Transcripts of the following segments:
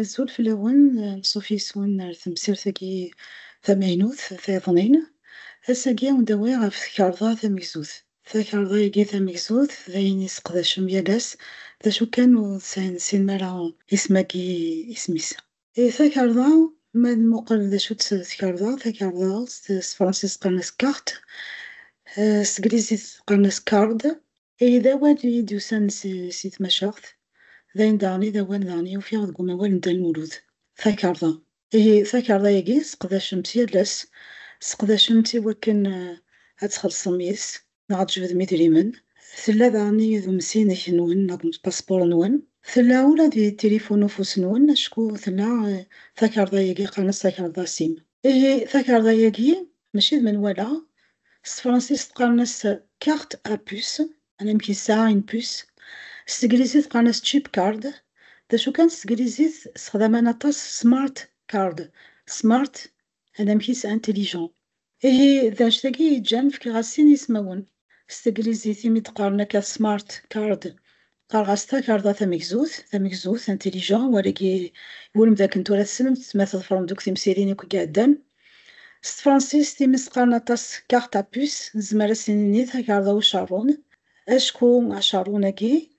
Azul fell-awen, anṣuf yes-wen ar temsirt-agi tamaynut tayeḍnin. Ass-agi ad wen-d-awiɣ ɣef tkarḍa tamegzut. Takarḍa-agi tamegzut d ayen i seqdacem yal ass, d acu kan ur tesɛin sin mi ara isem-agi isem-is. Di takerḍa, ma ad nmuqel d acu-tt tkerḍa, takerḍa s tefransist qqaren-as carte, s teglizit qqaren-as card. Ihi d awal i yi-d-yusan si tmacaɣt, d ayen daɣen i d awal daɣen i ufiɣ deg umawal n Dda Lmulud, takerḍa. Ihi takerḍa-agi seqdacem-tt yal ass, seqdacem-tt i wakken ad txellṣem yis-s. neɣ ad tjebdem idrimen. Tella daɣen i yidumsinek nwen neɣ d paspuṛ nwen. Tella ula d i tilifun ufus nwen acku tella takarḍa yagi qqaren-as takarḍa sim. Ihi takarḍa yagi mačči d menwala, s tefransist qqaren-as carte à puce, anamek yesɛa une puce, s teglizit qqaren-as chip card, d acu kan s teglizit sexdaman aṭas smart card, smart anamek-is intelligent. Ihi, d acu tagi i yeǧǧan fkiɣ-as sin ismawen. S teglizit imi d-qqaren akka smart card, qqareɣ-as takarḍa tamegzut, tamegzut, intelligent, wal-agi iwulem dakken tura tessnem-t ma tḍefrem-d akk timsirin akk i iɛeddan. S tefransist imi s-qqaren aṭas carte à puce, nezmer ad s-nini takarḍa ucerrun, acku acerrun-agi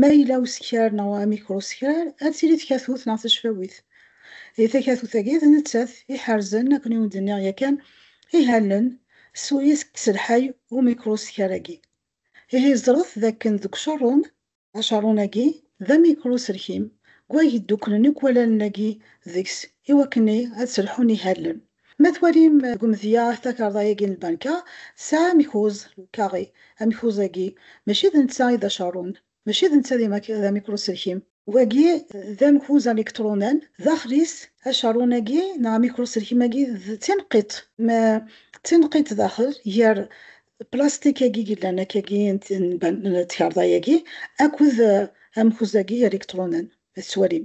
Ma yella usekrar neɣ amikrusekrar, ad tili tkatut neɣ tacfawit. Di takatut-agi, d nettat i iḥerzen, akken i wen-d-nniɣ yakan, ihalen s wayes i yettelḥay umikrusekrar-agi. Ihi ẓret d akken deg ucerrun, acerrun-agi d amikruserkim, deg wayeg ddukklen akk wallalen-agi deg-s iwakken ad sselḥun ihalen. Ma twalim deg umedya takarḍa-agi n lbanka tesɛa amekuz, le carré, amekuz-agi mačči d netta i d acerrun, mačči d netta d amikruselkim. Wagi d amekuz alikṭrunan, daxel-is acerrun-agi neɣ amikruselkim-agi d tineqqiṭ. Ma d tineqqiṭ daxel, gar plastik-agi yellan akkagi n tkarḍa-agi akked amekuz-agi alikṭrunan, ad tettwalim.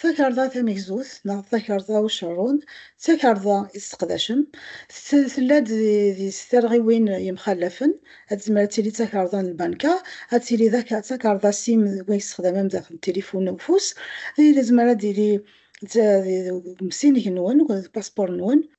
Takarḍa tamegzut neɣ takarḍa ucerrun d takarḍa i tesseqdacem. Tella-d di s tarɣiwin yemxallafen. Ad tezmer ad tili d takarḍa n lbanka, ad tili d takarḍa sim deg wayen tesexdam am daxel n tilifun n ufus. Tezmer ad tili d umsinig-nwen, d upaspuṛ-nwen.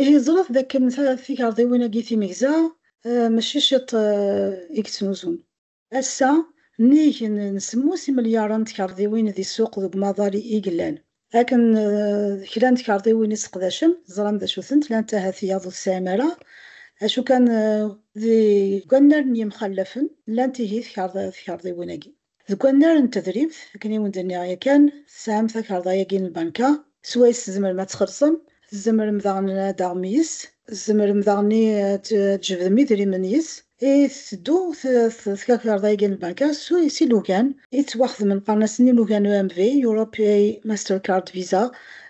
Ihi ẓret d akken tikerḍiwin-agi timegza mačči ciṭ i yettnuzun. Ass-a, nnig n semmus imelyaṛen n tkerḍiwin di ssuq deg umaḍal i yellan, akken d kra n tkerḍiwin i sseqdacen, teẓram d acu-tent, llant ahat tiyaḍ ur tesɛim ara, acu kan deg wannar n yemxallafen llant ihi tkerḍiwin-agi. Deg wannar n tedrimt, akken i wen-d-nniɣ yakan, tesɛam takarḍa-agi n lbanka, s wayes tzemrem ad txellṣem, tzemrem daɣen ad taɣem yes-s, tzemrem daɣen ad tjebdem idrimen yes-s, i tetteddu tkakarḍa-agi n lbanka s ilugan i ttwaxedmen, qqaren-asen ilugan EMV, Europeay Mastercard Visa,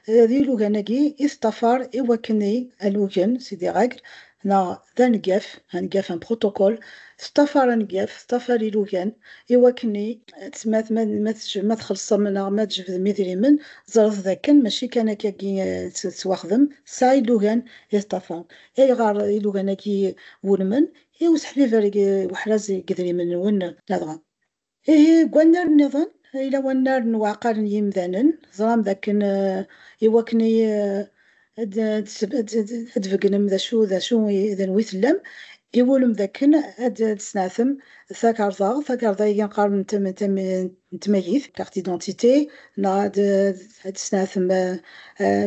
d ilugan-agi i teṭṭafar i wakken i alugen, c'est-à-dire règles, neɣ d aneggaf, aneggaf, un protocole, teṭṭafar aneggaf, teṭṭafar ilugan, i wakken i. Tezmert ma ma ma txellṣem neɣ ma tjebdem idrimen, ẓret d akken mačči kan akka-agi tettwaxdem, tesɛa ilugan i teṭṭafar. Ayɣer ilugan-agi wulmen i useḥbiber weḥraz deg yidrimen-nwen ladɣa? Ihi, deg wannar nniḍen, yella wannar n uɛqal n yimdanen, teẓram dakken i wakken ad d-tbeggnem d acu d acu d anwi tellam, iwulem dakken ad d-tesneɛtem takarḍa, takarḍa ihi qqaren n tmagit, carte d'identité, neɣ ad d-tesneɛtem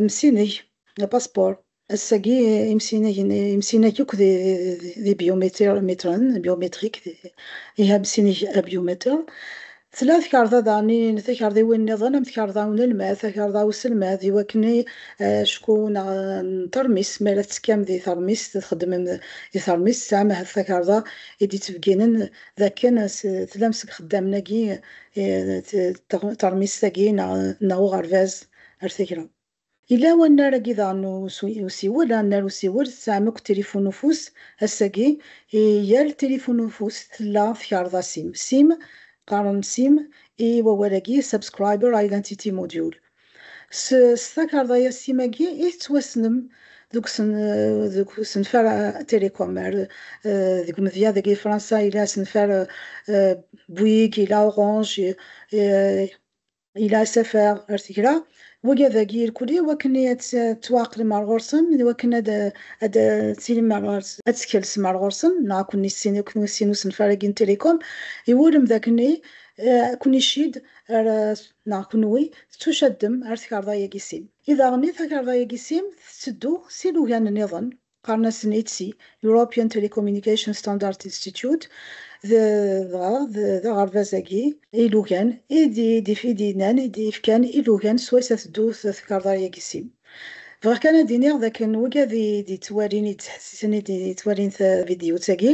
amsinig, le passeport. Ass-agi, imsinagen imsinag akk d ibyumitren, biométriques, ihamsineg abyumitir. Tla tkarḍa daɣen n takarḍiwin nniḍen am tkarḍa n unelmad, takarḍa n uselmad, i wakken acku neɣ n teṛmist, mi ara tettekkam di teṛmist, txeddmem di teṛmist, tesɛam ahat takarḍa i d-yettbegginen d akken tlam seg ixeddamen-agi teṛmist-agi neɣ uɣerbaz ar tagra. Yella wannar agi daɣen n usiwel, annar usiwel, tesɛam akk tilifun n ufus, ass-agi i yal tilifun n ufus tella tkerḍa sim, sim, qqaren sim i wawal-agi Subscriber Identity Module. S s takerḍa-ya sim agi i tettwassnem deg deg usenfar Télécom, ar deg umedya deg i Fransa yella asenfar Bouygues, yella Orange, yella asafar ar tgra, wagi ad ak-irkul i wakken ad tettwaɛeqlem ar ɣur-sen, d wakken ad d-tilim ar ɣur-s, ad tkelsem ar ɣur-sen, neɣ ad ken-issin, ad ken-issin usenfar-agi n Télécom, iwulem d akken ad ken-icidd ar, neɣ kenwi tettucaddem ar tkarḍa-yagi sim. I daɣen i takarḍa-yagi sim tetteddu s ilugan-nniḍen, Qqaren-asen ETSI, European Telecommunication Standards Institute, dɣa d aɣerbaz-agi ilugan i d-yennan, i d-yefkan ilugan swayes ad teddu tkarḍa-agi sim. Bɣiɣ kan ad d-iniɣ d akken wigi ad d-yettwalin, yettḥessisen, yettwalin tavidyut-agi,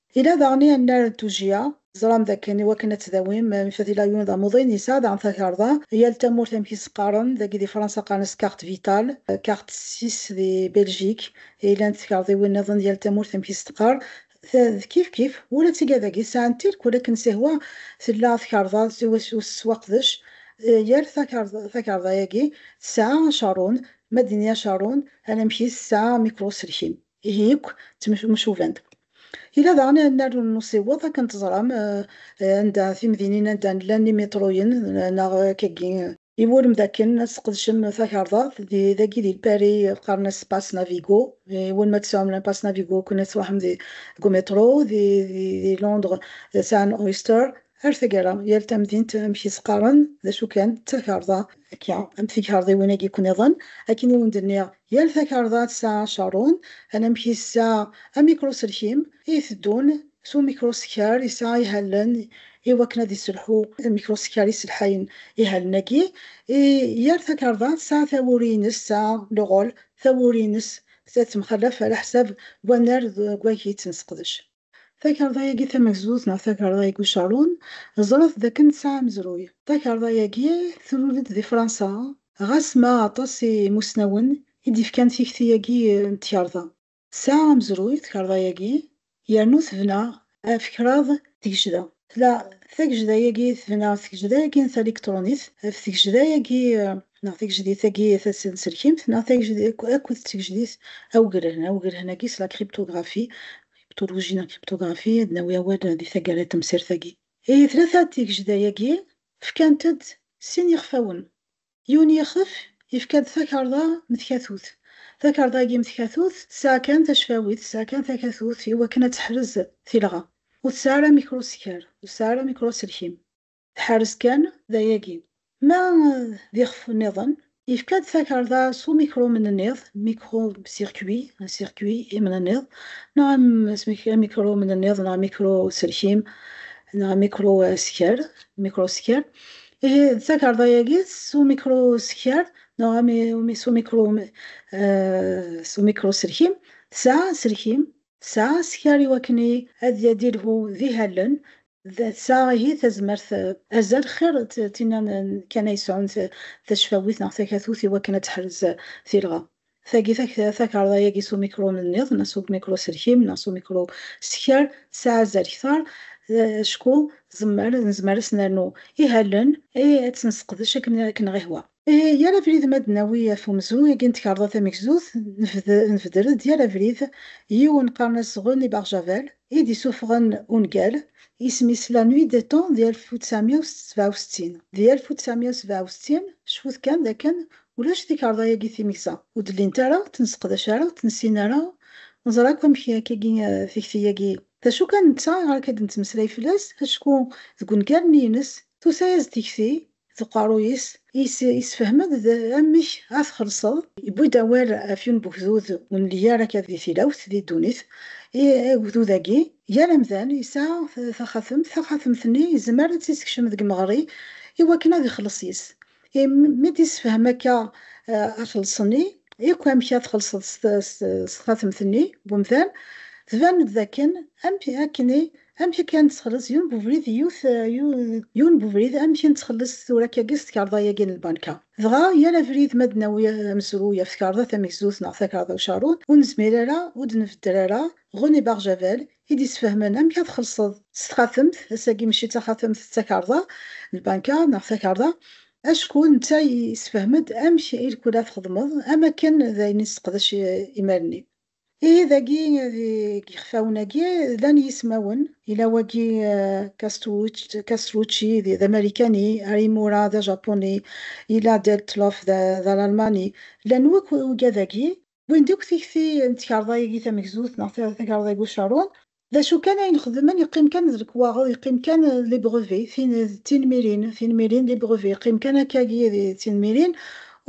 Ila daɣen i annar n tujjya. Teẓram dakken i wakken ad tdawim Mifatilayon d amuḍin, yesɛa daɣen takarḍa. Yal tamurt amek i s-qqaren, dagi di Fransa qqaren-as carte vitale, carte six di Beljik, ilan tkarḍiwin niḍen, yal tamurt amek i s-teqqar. Ta d kifkif, ula d tiga dagi sɛan tilk, ula akken sihwa tella tkarḍa iwacu tettwaqdec. Yal takarḍa-agi tesɛa acarun, ma d-nini acarun, anamek-is tesɛa amikruselkim. Ihi akk ttemcubant. Yella daɣen annar n usiweḍ, akken teẓram, anda timdinin anda llan imiṭruyen neɣ akkagi. Iwulem dakken ad tesqedcem takerḍat dagi di Lpari qqaren-as Pass Navigo, iwulem ad tesɛum la Pass Navigo akken ad truḥem deg umiṭru, di Londres sɛan Oyster, Ar taggara, yal tamdint amek i s-qqaren, d acu kan, d takerḍa. Akka, am tkerḍiwin-agi-ken-iḍen, akken i wen-d-nniɣ, yal takerḍa tesɛa acarun, anamek i tesɛa amikruselkim, i iteddun s umikrusekkar, yesɛa ihallen i wakken ad yesselḥu amikrusekkar yesselḥayen ihallen-agi. I yal takerḍa tesɛa tawuri-ines, tesɛa le rôle, tawuri-ines, tettemxalaf ɣer leḥsab n wannar deg wamek i tt-nesseqdec. Takarḍa-agi tamagzut neɣ takarḍa igucaṛun, ẓṛet d akken tesɛa amezruy. Takarḍa-agi trul-d di Fransa, ɣas ma aṭas n yimusnawen i d-yefkan tikti-agi n tkarḍa. Tesɛa amezruy tkarḍa-agi yernu tebna ɣef kraḍ tgecda. Tla tagejda-agi tebna tgejda-agi n taliktṛunit ɣef tgejda-agi neɣ tigejdit-agi tasenselkimt neɣ tagejda akked tgejdit awegren. Awegren-agi s la cryptographie, cryptologie neɣ cryptographie, ad nawi awal di taggara n temsirt-agi. I tlata n tigejda-agi fkant-d sin yixfawen, Yiwen yixef, yefka-d takarḍa m tkatut. Takarḍa-agi m tkatut tesɛa kan tacfawit, tesɛa kan takatut i wakken ad teḥrez tilɣa. Ur tesɛi ara mikruskar, ur tesɛi ara mikruselkim. Tḥerrez kan d ayagi. Ma d ixef nniḍen, yefka-d takarḍa s umikrumenniḍ, micro-circuit, un circuit, imenniḍ, neɣ amikrumenniḍ neɣ amikruselkim, neɣ amikruskar, microskar, Ihi d takerḍa-agi s umikruskar neɣ s umikruselkim, tesɛa aselkim, tesɛa askar iwakken ad d-ilhu d ihallen, tesɛa ihi tazmert azal xir d tinna kan ay yesɛun tacfawit neɣ takatut iwakken ad teḥrez tilɣa. Tagi takarḍa-agi s umikru-nniḍen, neɣ s umikru-selkim, neɣ s umikru-sekar, tesɛa azal kter, acku tzemmer, nezmer ad s-nernu ihalen, ihi ad tt-nesseqdec akken ad k-nɣ-ihwa. Yal abrid ma d-nawi ɣef umezruy-agi n tkarḍa tamegzut, nbeder-d yal abrid yiwen qqaren-as René Barjavel, i d-isuffɣen ungal, isem-is La Nuit des Temps di alef u tesεemya u sebεa u settin. Di alef u tesεemya u sebɛa u settin, cfut kan d akken Ulac tikerḍa-yagi timeksa, ur d-llint ara, ur tt-nesseqdac ara, ur tt-nessin ara, neẓra akk amek akkagi tikti-yagi, d acu kan netta iɣer akka d-nettmeslay fell-as, acku deg wengaren-ines tusa-as-d tikti d uqerruy-is, yessefhem-d d amek ad t-xellṣeḍ. Yewwi-d awal ɣef yiwen n wegdud ur nelli ara akka di tilawt, di ddunit, i ugdud-agi, yal amdan yesɛa taxatemt, taxatemt-nni yezmer ad tt-yessekcem deg imeɣri i wakken ad ixelleṣ yis-s, I mi d-yessefhem akka axleṣ-nni yakk amek ad txelṣeḍ s txatemt-nni n umdan, tban-d d akken amek akka i nettxelliṣ yiwen n ubrid i yiwet, yiwen n ubrid amek i nettxelliṣ tura akkagi s tkerḍa-yagi n lbanka. Dɣa yal abrid ma d-nawi amezruy ɣef tkerḍa tamegzut neɣ takerḍa ucarun, ur nezmir ara, ur d-nbedder ara, René Barjavel, i d-yesfehmen amek ad txellṣeḍ s txatemt, ass-agi mačči d taxatemt d takarḍa, lbanka neɣ takarḍa, acku netta yessefhem-d amek i lkul ad txedmeḍ am akken d ayen i nesseqdec imir-nni. Ihi dagi deg yixfawen-agi llan yismawen, yella wagi Castrucci d amarikani, Arimura d ajapuni, yella Deltloff d alalmani, llan wakk ugad-agi. wwin-d akk tikti n tkerḍa-agi tamegzut neɣ takerḍa n ucerrun, d acu kan ayen xedmen yeqqim kan d lekwaɣeḍ, yeqqim kan d les brevets, tin d tinmirin, tinmirin d les brevets, yeqqim kan akkagi d tinmirin,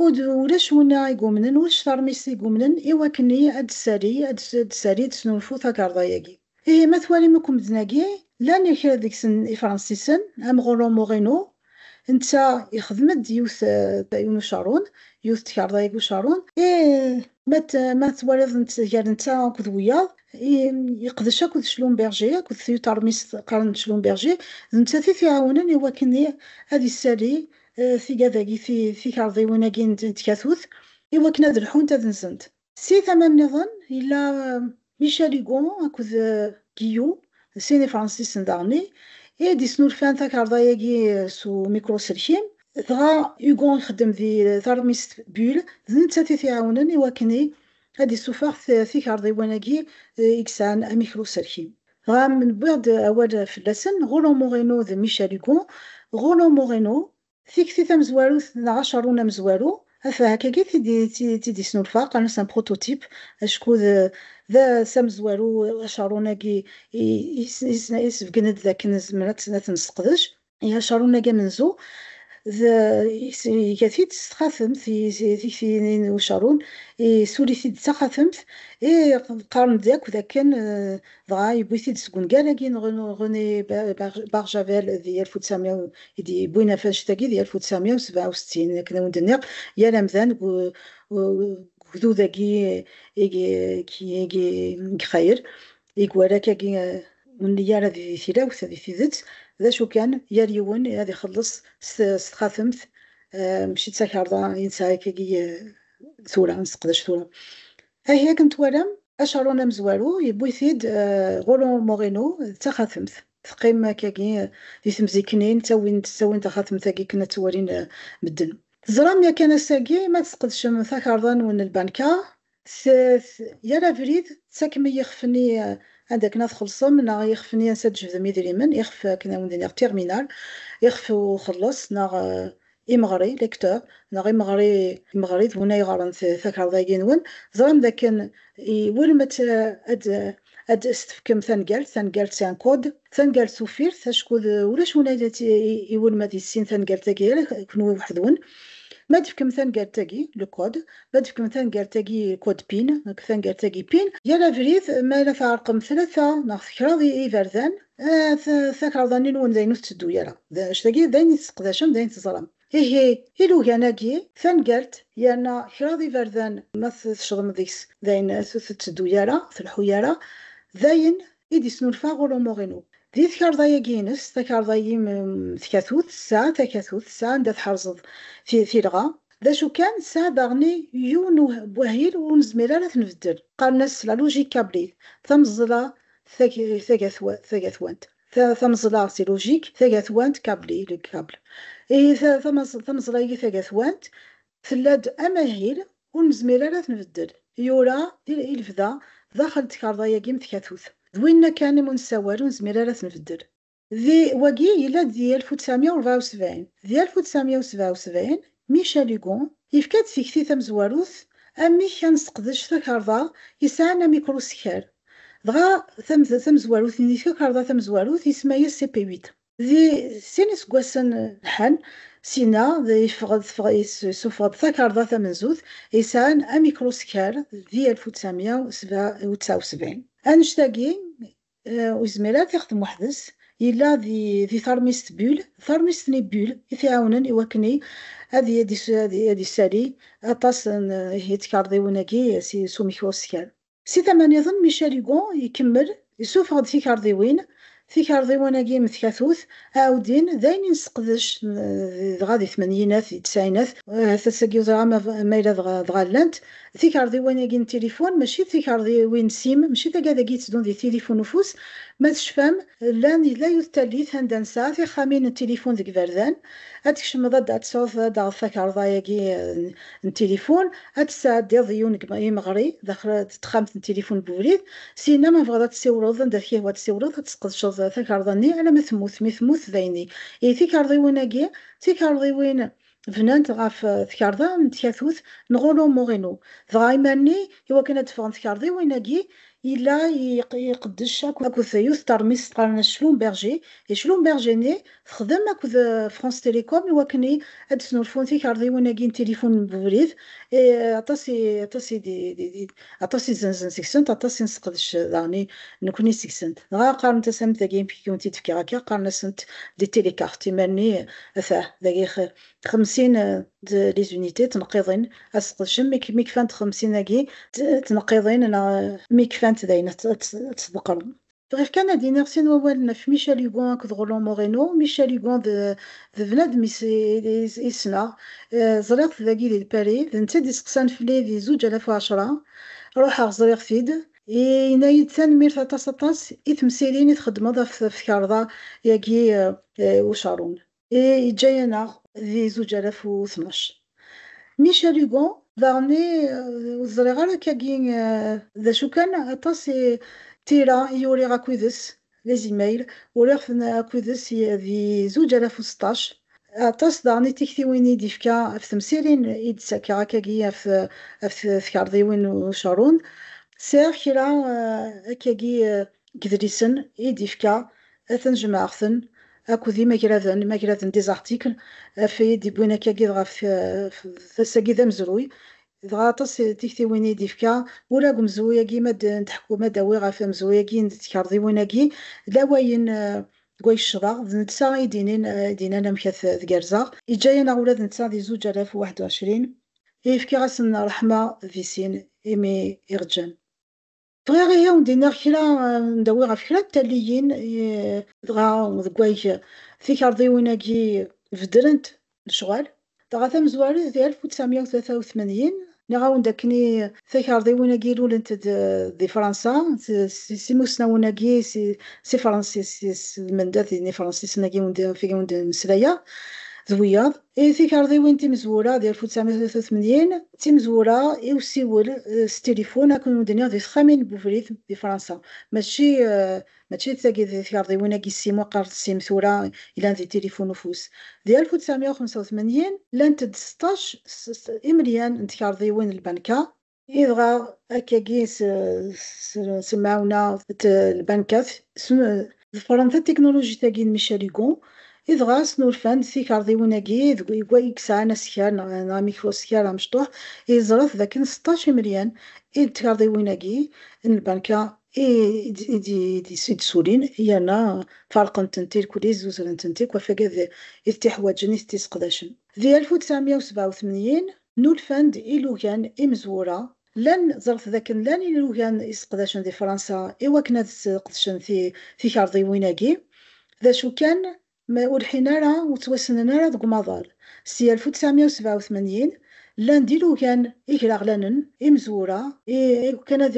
ur ulac winna i yumnen, ulac taṛmist i yumnen i wakken-nni ad d-tessali, ad d-tessali, ad d-tesnulfu takerḍa-agi. Ihi ma twalim akk medden-agi, llan kra deg-sen ifransisen, am Rolland Moreno, netta ixdem-d yiwet n ucarun, yiwet n tkerḍa eg ucarun, ihi ma twaliḍ gar netta akked wiyaḍ, yeqdec akked Schlumberger, akked tyuṭermist qqaren Schlumberger, d nettat i t-iɛawnen i wakken ad issali tigad-agi, tikerḍiwin-agi n tkatut, i wakken ad lḥunt, ad nzent. Si tama nniḍen, yella Michel Hugo akked Guillou, d sin Ifransisen daɣen i i d-yesnulfan takarḍa-agi s umikruselkim, dɣa Hugo ixeddem di teṛmist Bulle, d nettat i t-iɛawnen i wakken i ad d-issufeɣ tikarḍiwin-agi i yesɛan amikruselkim. Dɣa, mi newwi-d awal fell-asen, Rolland Moreno d Michel Hugo, Rolland Moreno Tikti tamezwarut neɣ acerrun amezwaru, af hakagi t-id-yesnulfa, qqaren-as un prototype, acku d s amezwaru acerrun-agi yesbeggen-d d akken nezmer ad t-nesseqdec. Acerrun-agi amenzu iga-t-id s txatemt, tikti-nni n ucerrun isuli-t-id d taxatemt, i qqaren-d akk d akken Dɣa yewwi-t-id seg ungal-agi n René Barjavel di alef u tesεemya u, i d-yewwin afact-agi di alef u tesεemya u sebεa u settin. Akken a wen-d-nniɣ, yal amdan deg ugdud-agi i ixayel, i iwala akkagi ur nelli ara di tilawt, di tidet, d acu kan, yal yiwen ad ixelleṣ s txatemt, mačči d takarḍa i nesɛa akkagi tura, i nesseqdac tura. Ahi akken twalam, acaṛun amezwaru yewwi-t-id Roland Moreno d taxatemt. Teqqim akkagi di temziknin ttawin taxatemt-agi akken ad tt-walin medden. Teẓram yakan ass-agi ma tesqedcem takarḍa-nwen n lbanka, yal abrid tettakem i yixef-nni anda akken ad txellṣem neɣ ixef-nni ansi ad d-tjebdem idrimen, ixef akken ad wen-d-iniɣ terminal, ixef uxelleṣ neɣ Imeɣri, lecteurs, neɣ imeɣri, imeɣri d win ay ɣren takarḍa-agi-nwen, teẓram dakken iwulem ad, ad, ad as-tefkem tanegalt, tanegalt c'est un code, tanegalt tuffirt, acku d ulac win ay la iwulem ad yessin tanegalt-agi ala kenwi weḥd-wen. Ma d-tefkem tanegalt-agi, le code, ma d-tefkem tanegalt-agi, code PIN, tanegalt-agi PIN, yal abrid ma la tɛerqem tlata neɣ kraḍ iberdan, Takerḍa-nni-nwen d ayen ur tetteddu ara. D acu tagi? D ayen i tesseqdacem, d ayen teẓram. Ihi, ilugan-agi, tangalt, yerna kraḍ iberdan ma tecḍem deg-s, d ayen ur tetteddu ara, ur tleḥḥu ara, d ayen i d-yesnulfa ɣur umuɣ-inu. Di tkerḍa-agi-ines, takerḍa yim tkatut, tesɛa takatut, tesɛa anda tḥerzeḍ tilɣa. D acu kan, tesɛa daɣen yiwen n wahil ur nezmir ara ad t-nbeddel. Qqaren-as la logique câblée, tameẓla tagatwant tameẓla si lujik tagatwant kabli le kable ihi tameẓla-agi tagatwant tella-d amahil ur nezmir ara ad t-nbeddel yura i lebda daxel n tkarḍa-agi mm tkatut d winna kan imu nessawal ur nezmir ara ad t-nbeddel. Di, wagi yella-d di alef u ttɛemya u ṛebɛa u sebɛin. Di alef u ttɛemya u sebɛa u sebɛin, Michel Hugo yefka-d tikti tamezwarut amek ad nesseqdec takarḍa yesɛan amikrusekker, dɣa tamezwarut-nni tkakarḍa tamezwarut isemma-yas CP8. Di sin iseggasen lḥan, Sina yeffeɣ-d teffeɣ yessuffeɣ-d takarḍa tamenzut yesɛan amikrusekker di alef u ttɛemya u sebɛa u sebɛin. Annect-agi Ur yezmir ara ad t-ixdem weḥd-s. Yella di teṛmist Bull, d taṛmist n Bull i t-iɛawnen i wakken ad yessali aṭas n tkeṛdiwin-agi s umek uskal. Si tama niḍen, Michel Hugo ikemmel isuffeɣ-d tikeṛdiwin, tikeṛdiwin-agi n tkatut, aɛuddin, d ayen i nesseqdec dɣa di tmenyinat, di tesɛinat, ahat ass-agi ur ẓriɣ ma yella dɣa llant. D tikerḍiwin-agi n tilifun, mačči d tikerḍiwin n sim, mačči tagad-agi yettedun di tilifun n ufus. Ma tecfam, llan, yella yiwet tallit anda nesɛa tixxamin n tilifun deg iberdan. Ad tkecmeḍ ad d-tesɛuḍ, ad d-taɣeḍ takerḍa-agi n tilifun, ad tt-tesɛeddiḍ di yiwen n yimeɣri daxel n texxamt n tilifun n ubrid. Syinna, ma tebɣiḍ ad tessiwleḍ anda t-yehwa ad tessiwleḍ, ad tesqedceḍ takerḍa-nni alamma temmut. Mi temmut, dayen-iyi. Ihi tikerḍiwin-agi d tikerḍiwin bnant ɣef tkerḍa n tkatut n Rollo Moreno, dɣa imerni i wakken ad d-ffɣen tkerḍiwin-agi yella iqeddec akked yiwet teṛmist qqaren-as Schlumberger, i Schlumberger-nni texdem akked France Télécom i wakken ad d-snulfun tikerḍiwin-agi n tilifun n ubrid, aṭas i Aṭas i zzenzen seg-sent, aṭas i nesseqdec daɣen nekkni seg-sent. Dɣa qqarent-as am tagi, amek i wen-t-id-fkiɣ akka, qqaren-asent des télécartes, imal-nni atah dagi xemsin de les unités, tneqqiḍin, ad sseqdcen mi kfant xemsin-agi tneqqiḍin neɣ mi kfant dayen ad tt-ḍeqqren. Bɣiɣ kan ad iniɣ sin wawalen ɣef Michel Hugon akked Roland Moreno. Michel Hugon d d bnadem i i ssneɣ. Ẓriɣ-t dagi di Paris. D netta i d-isteqsan fell-i di zuǧ alaf u ɛecṛa. Ruḥeɣ ẓriɣ-t-id. Yenna-yi-d, Tanemmirt aṭas aṭas i temsirin i txeddmeḍ ɣef tkarḍa-agi n ucaṛun. e yeǧǧa-yaneɣ di zuǧ alaf u tnac. Michel Hugo daɣen i, ur ẓriɣ ara akka-agi d acu kan, aṭas i tira i uriɣ akked-s, les emails, uriɣ-ten akked-s di zuǧ alaf u seṭṭac, aṭas daɣen i tiktiwin i d-yefka ɣef temsirin i d-ssakkaɣ akka-agi ɣef tkarḍiwin n ucerrun, sɛiɣ kra akka-agi. deg yidlisen i d-yefka, atan jemɛeɣ-ten akked imagraden, imagraden des articles, af i d-yewwin akkagi dɣa af ass-agi d amezruy, dɣa aṭas n tiktiwin i d-yefka, ula deg umezruy-agi ma d-neḥku, ma d-awiɣ ɣef amezruy-agi n tkerḍiwin-agi, d awayen deg way ccḍeɣ, d netta i d-inin, i d-inan amek ad t-gerzeɣ. Yeǧǧa-yaneɣ ula d netta di zuǧ alaf u waḥed u ɛecrin, i yefkiɣ ass n ṛṛeḥma di sin imi iɣeǧǧan. Bɣiɣ ihi ad wen-d-iniɣ kra, ad wen-d-awiɣ ɣef kra n talliyin, dɣa deg wayeg tikerḍiwin-agi beddrent lecɣal. Dɣa tamezwarut di alef u ttɛemya u tlata u tmanyin, nniɣ-awen-d akken i takerḍiwin-agi lulent-d di Fransa, s imusnawen-agi, s Ifransisen, s lmendad n Ifransisen-agi i wen-d-mmeslayeɣ d wiyaḍ. I tikerḍiwin timezwura di alef u tesεemya u tlata u tmanyin, d timezwura i usiwel s tilifun akken ur d-nniɣ di texxamin n webrid di Fransa. Mačči mačči d tagi d tikerḍiwin agi sim waqqar d sim tura yellan di tilifun ufus. Di alef u tesεemya u xemsa u tmanyin, llant-d seṭṭac s imelyan n tkerḍiwin n lbanka Idɣa akkagi s lemɛawna d lbankat, ḍefren tatiknulujit-agi n Michel Hugo, idɣa snulfan-d tikerḍiwin-agi deg wayegga i yesɛan askar neɣ amikruskar amecṭuḥ, yeẓra-t d akken seṭṭac imelyan i d tkerḍiwin-agi n lbanka i d-yessulin yerna ferqen-tent irkli, zzuzren-tent akk, afag ad it-iḥwaǧen, i t-iseqdacen. Di alef u tesɛemya u sebɛa u tmanyin, Nulfan-d ilugan imezwura. Llan, ẓret dakken llan ilugan i seqdacen di Fransa i wakken ad sqedcen tikerḍiwin-agi, d acu kan, ur lḥin ara, ur ttwassnen ara deg umaḍal. S yal alef u tesεemya u sebεa u tmanyin, llan-d ilugan igraɣlanen imezwura, i wakken ad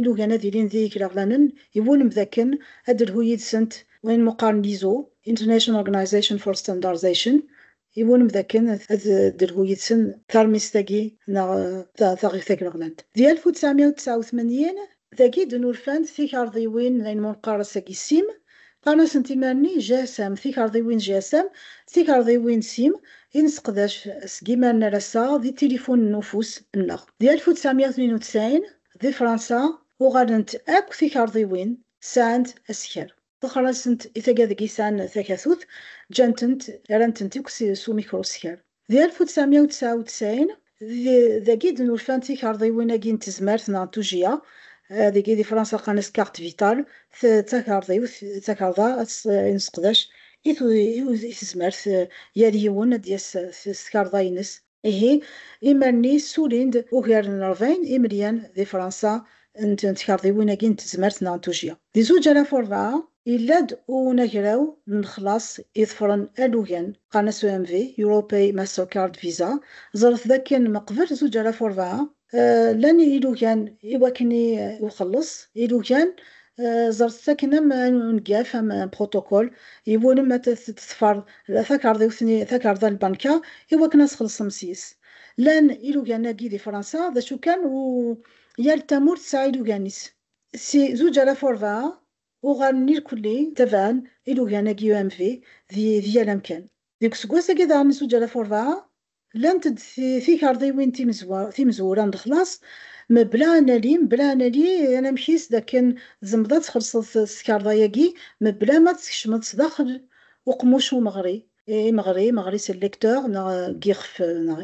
ilugan ad ilin d igraɣlanen iwulem dakken ad d-telhu yid-sent wayen meqqaren ISO, International Organization for Standardization, Yiwen mdakken ad d-telhu yid-sen tarmist-agi neɣ taɣift tagleɣlant. Di alef u tesɛemya u tesɛa u tmanyin, dagi d-nurfan-d tikarḍiwin n ayen ma neqqar ass-agi sim, qqaren-asent imir-nni GSM, tikarḍiwin GSM, tikarḍiwin sim, i nesseqdac seg imir-nni ar ass-a di tilifunen n ufus nneɣ. Di alef u tesɛemya u tnin u tesɛin, di Fransa, uɣalent akk tikarḍiwin sɛant asekher. Texrasent i taga deg yesɛan takatut, ǧǧan-tent, rran-tent akk s umikru skar. Di alef u tesɛemya u tesɛa u tesɛin, dagi i d-nurfan tikerḍiwin-agi n tezmert neɣ n tujjya, dagi di Fransa qqan-as carte vitale, d takerḍiwt, d takerḍa i nesseqdac i tezmert, yal yiwen ad d-yas s tkerḍa-ines. Ihi, imal-nni ssulin-d ugar n rebɛin imelyan di Fransa n tkerḍiwin-agi n tezmert neɣ n tujjya. Di zuǧ alaf u rebɛa, yella-d unagraw n lexlaṣ iḍefren alugen, qqaren-as EMV, Europei Mastercard Visa, ẓret dakken meqbel zuǧ alaf u rebɛa, Llan yilugan i wakken i uxelleṣ, ilugan ẓret-t akken am ungaf, am un protocole, yiwulem ad t-teḍfer takerḍiwt n takerḍa n lbanka i wakken ad txellṣem sys. Llan ilugan-agi di Fransa, d acu kan u yal tamurt tesɛa ilugan-is. Si zuǧ ara f urebɛa uɣalen irkelli tabɛen ilugan-agi UMV di yal amkan. Deg useggas-agi daɣen n zuǧ ara f urebɛa, Llant-d tikarḍiwin timezwura n lexlaṣ mebla anali, mebla anali anamek-is dakken tzemreḍ ad txellṣeḍ s tkarḍa-agi mebla ma tkecmeḍ sdaxel uqmuc umeɣri, imeɣri, imeɣri c'est lecteur neɣ deg yixef, neɣ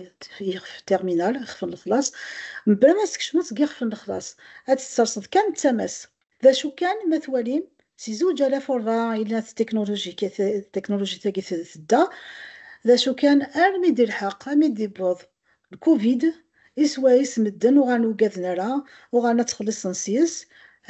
yixef terminal, ixef n lexlaṣ, mebla ma tkecmeḍ deg yixef n lexlaṣ, ad tt-tesserseḍ kan d tama-s. D acu kan, ma twalim, si zuǧ alaf u rebɛa i la tetiknulujit-agi tedda, d acu kan, armi d-ilḥeq, armi d-iwweḍ lkuvid, i swayes medden uɣalen ur ugaden ara, uɣalen ad ttxelliṣen sys.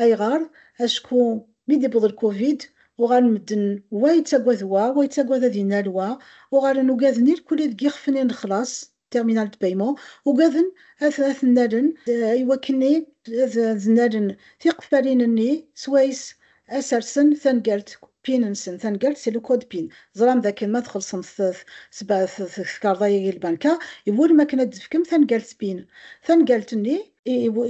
Ayɣer? Acku mi d-iwweḍ lkuvid, uɣalen medden wa yettagad wa, wa yettagad ad inal wa, uɣalen ugaden irkelli deg yixef-nni n lexlaṣ, terminal de paiement, ugaden ad ten-nalen i wakken ad d-nalen tiqeffalin-nni swayes ad sersen tangalt, pin-nsen, tangalt c'est le code pin. Teẓram dakken ma txellṣem tkarḍa-agi lbanka, iwulem akken ad d-tefkem tangalt pin. Tangalt-nni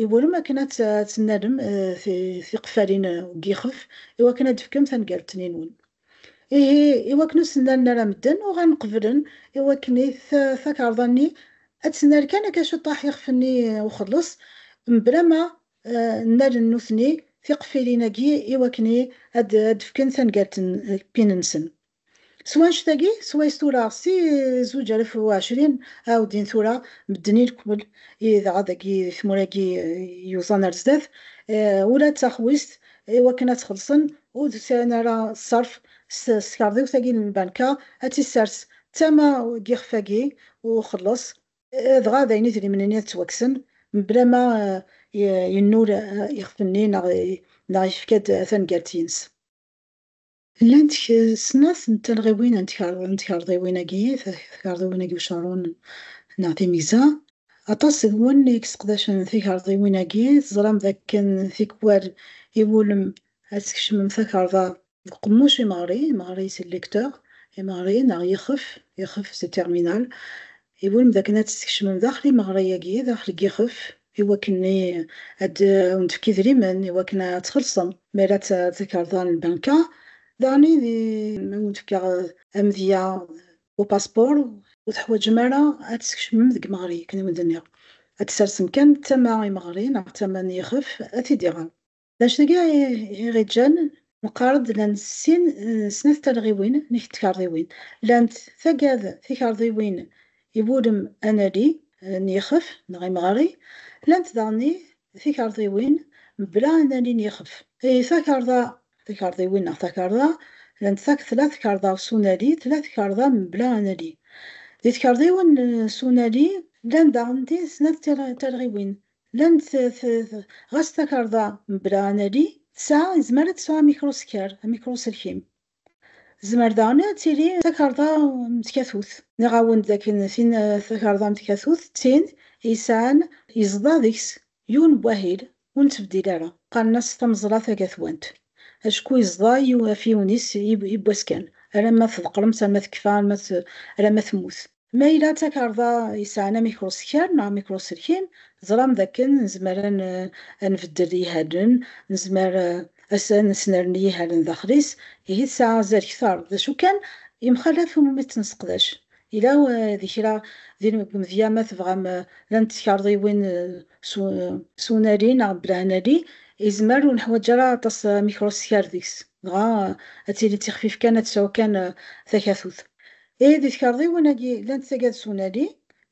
iwulem akken ad tennalem tiqeffalin n yixef i wakken ad d-tefkem tangalt-nni-nwen. Ihi, iwakken ur sen-nerna ara medden, uɣalen qeblen iwakken i takerḍa-nni ad tner kan akka ciṭṭaḥ ixef-nni n uxelleṣ, mebla ma nnalen nutni tiqeffilin-agi iwakken ad d-fken tangalt n pin-nsen. S wanect-agi, s wayes tura si zuǧ alef u ɛecrin ɛuddin tura medden i lekmel, i dɣa dagi di tmura-agi yuẓan ar zdat, ula d taxwist I wakken ad t-xellṣen, ur d-sɛin ara ṣṣerf s tkerḍiwt-agi n lbanka, ad tt-issers d tama n yixef-agi n uxelleṣ, dɣa d ayen idrimen-nni ad ttwakksen mebla ma yennul ixef-nni neɣ yefka-d tangalt-ines. Llant snat n talɣiwin n tkarḍiwin-agi, tkarḍiwin-agi ucaṛun neɣ timegza. Aṭas seg-wen i yesseqdacen tikarḍiwin-agi, teẓram dakken tikwal iwulem ad tkecmem takarḍa deg uqemmuc imeɣri, imeɣri c'est le lecteur, imeɣri neɣ yexef, yexef c'est terminal, Iwulem d akken ad tt-tkecmem daxel imeɣri-agi, daxel n yixef, iwakken ad wen-d-tefk idrimen iwakken ad txellṣem mi ara takarḍa n lbanka, daɣen ad wen-d-tefk amedya n upaspuṛ, ur teḥwaǧem ara ad tt-tkecmem deg imeɣri akken i wen-d-nniɣ, ad tt-tersem kan tama n imeɣri neɣ tama n yixef ad t-id-iɣer. D acu tga iɣiǧǧan? Neqqar-d llan sin n snat talɣiwin n tkerḍiwin. Llant taggad tikerḍiwin i wulem anali n yixef neɣ imɣari, llant daɣen i tikerḍiwin mebla anali n yixef. I takerḍa tikerḍiwin neɣ takerḍa, llant tak tla tkerḍa s unali, tla tkerḍa mebla anali. Di tkerḍiwin s unali, llan daɣen di snat talɣiwin, Llan t, t, t, ɣas takarḍa mebla anali, tesɛa, yezmer ad tesɛu amikruskar, amikruselkim. Tezmer daɣen ad tili d takarḍa n tkatut. Nniɣ-awen-d dakken tin, takarḍa n tkatut, d tin i yesɛan, yeẓḍa deg-s yiwen n wahil ur nettbeddil ara, qqaren-as tameẓla tagatwant, acku yeẓḍa yiw, afyiwen-is i, i wass kan, alamma tḍeqqremt, alamma tekfa, alamma, alamma temmut. Ma yella d takarḍa yesɛan amikruskal neɣ amikruselkim, teẓram dakken nezmer ad nbeddel ihalen, nezmer ad nesnerni ihalen daxel-is, ihi tesɛa azal kter, d acu kan, yemxalaf umi tt-nesseqdac. Yella di kra deg umedya ma tebɣam llant tkarḍiwin s unali neɣ bla anali, yezmer ur neḥwaǧ ara aṭas amikruskal deg-s. Dɣa ad tili d tixfif kan, ad tesɛu kan takatut. Ihi di tkerḍiwin-agi llant tagad s unali.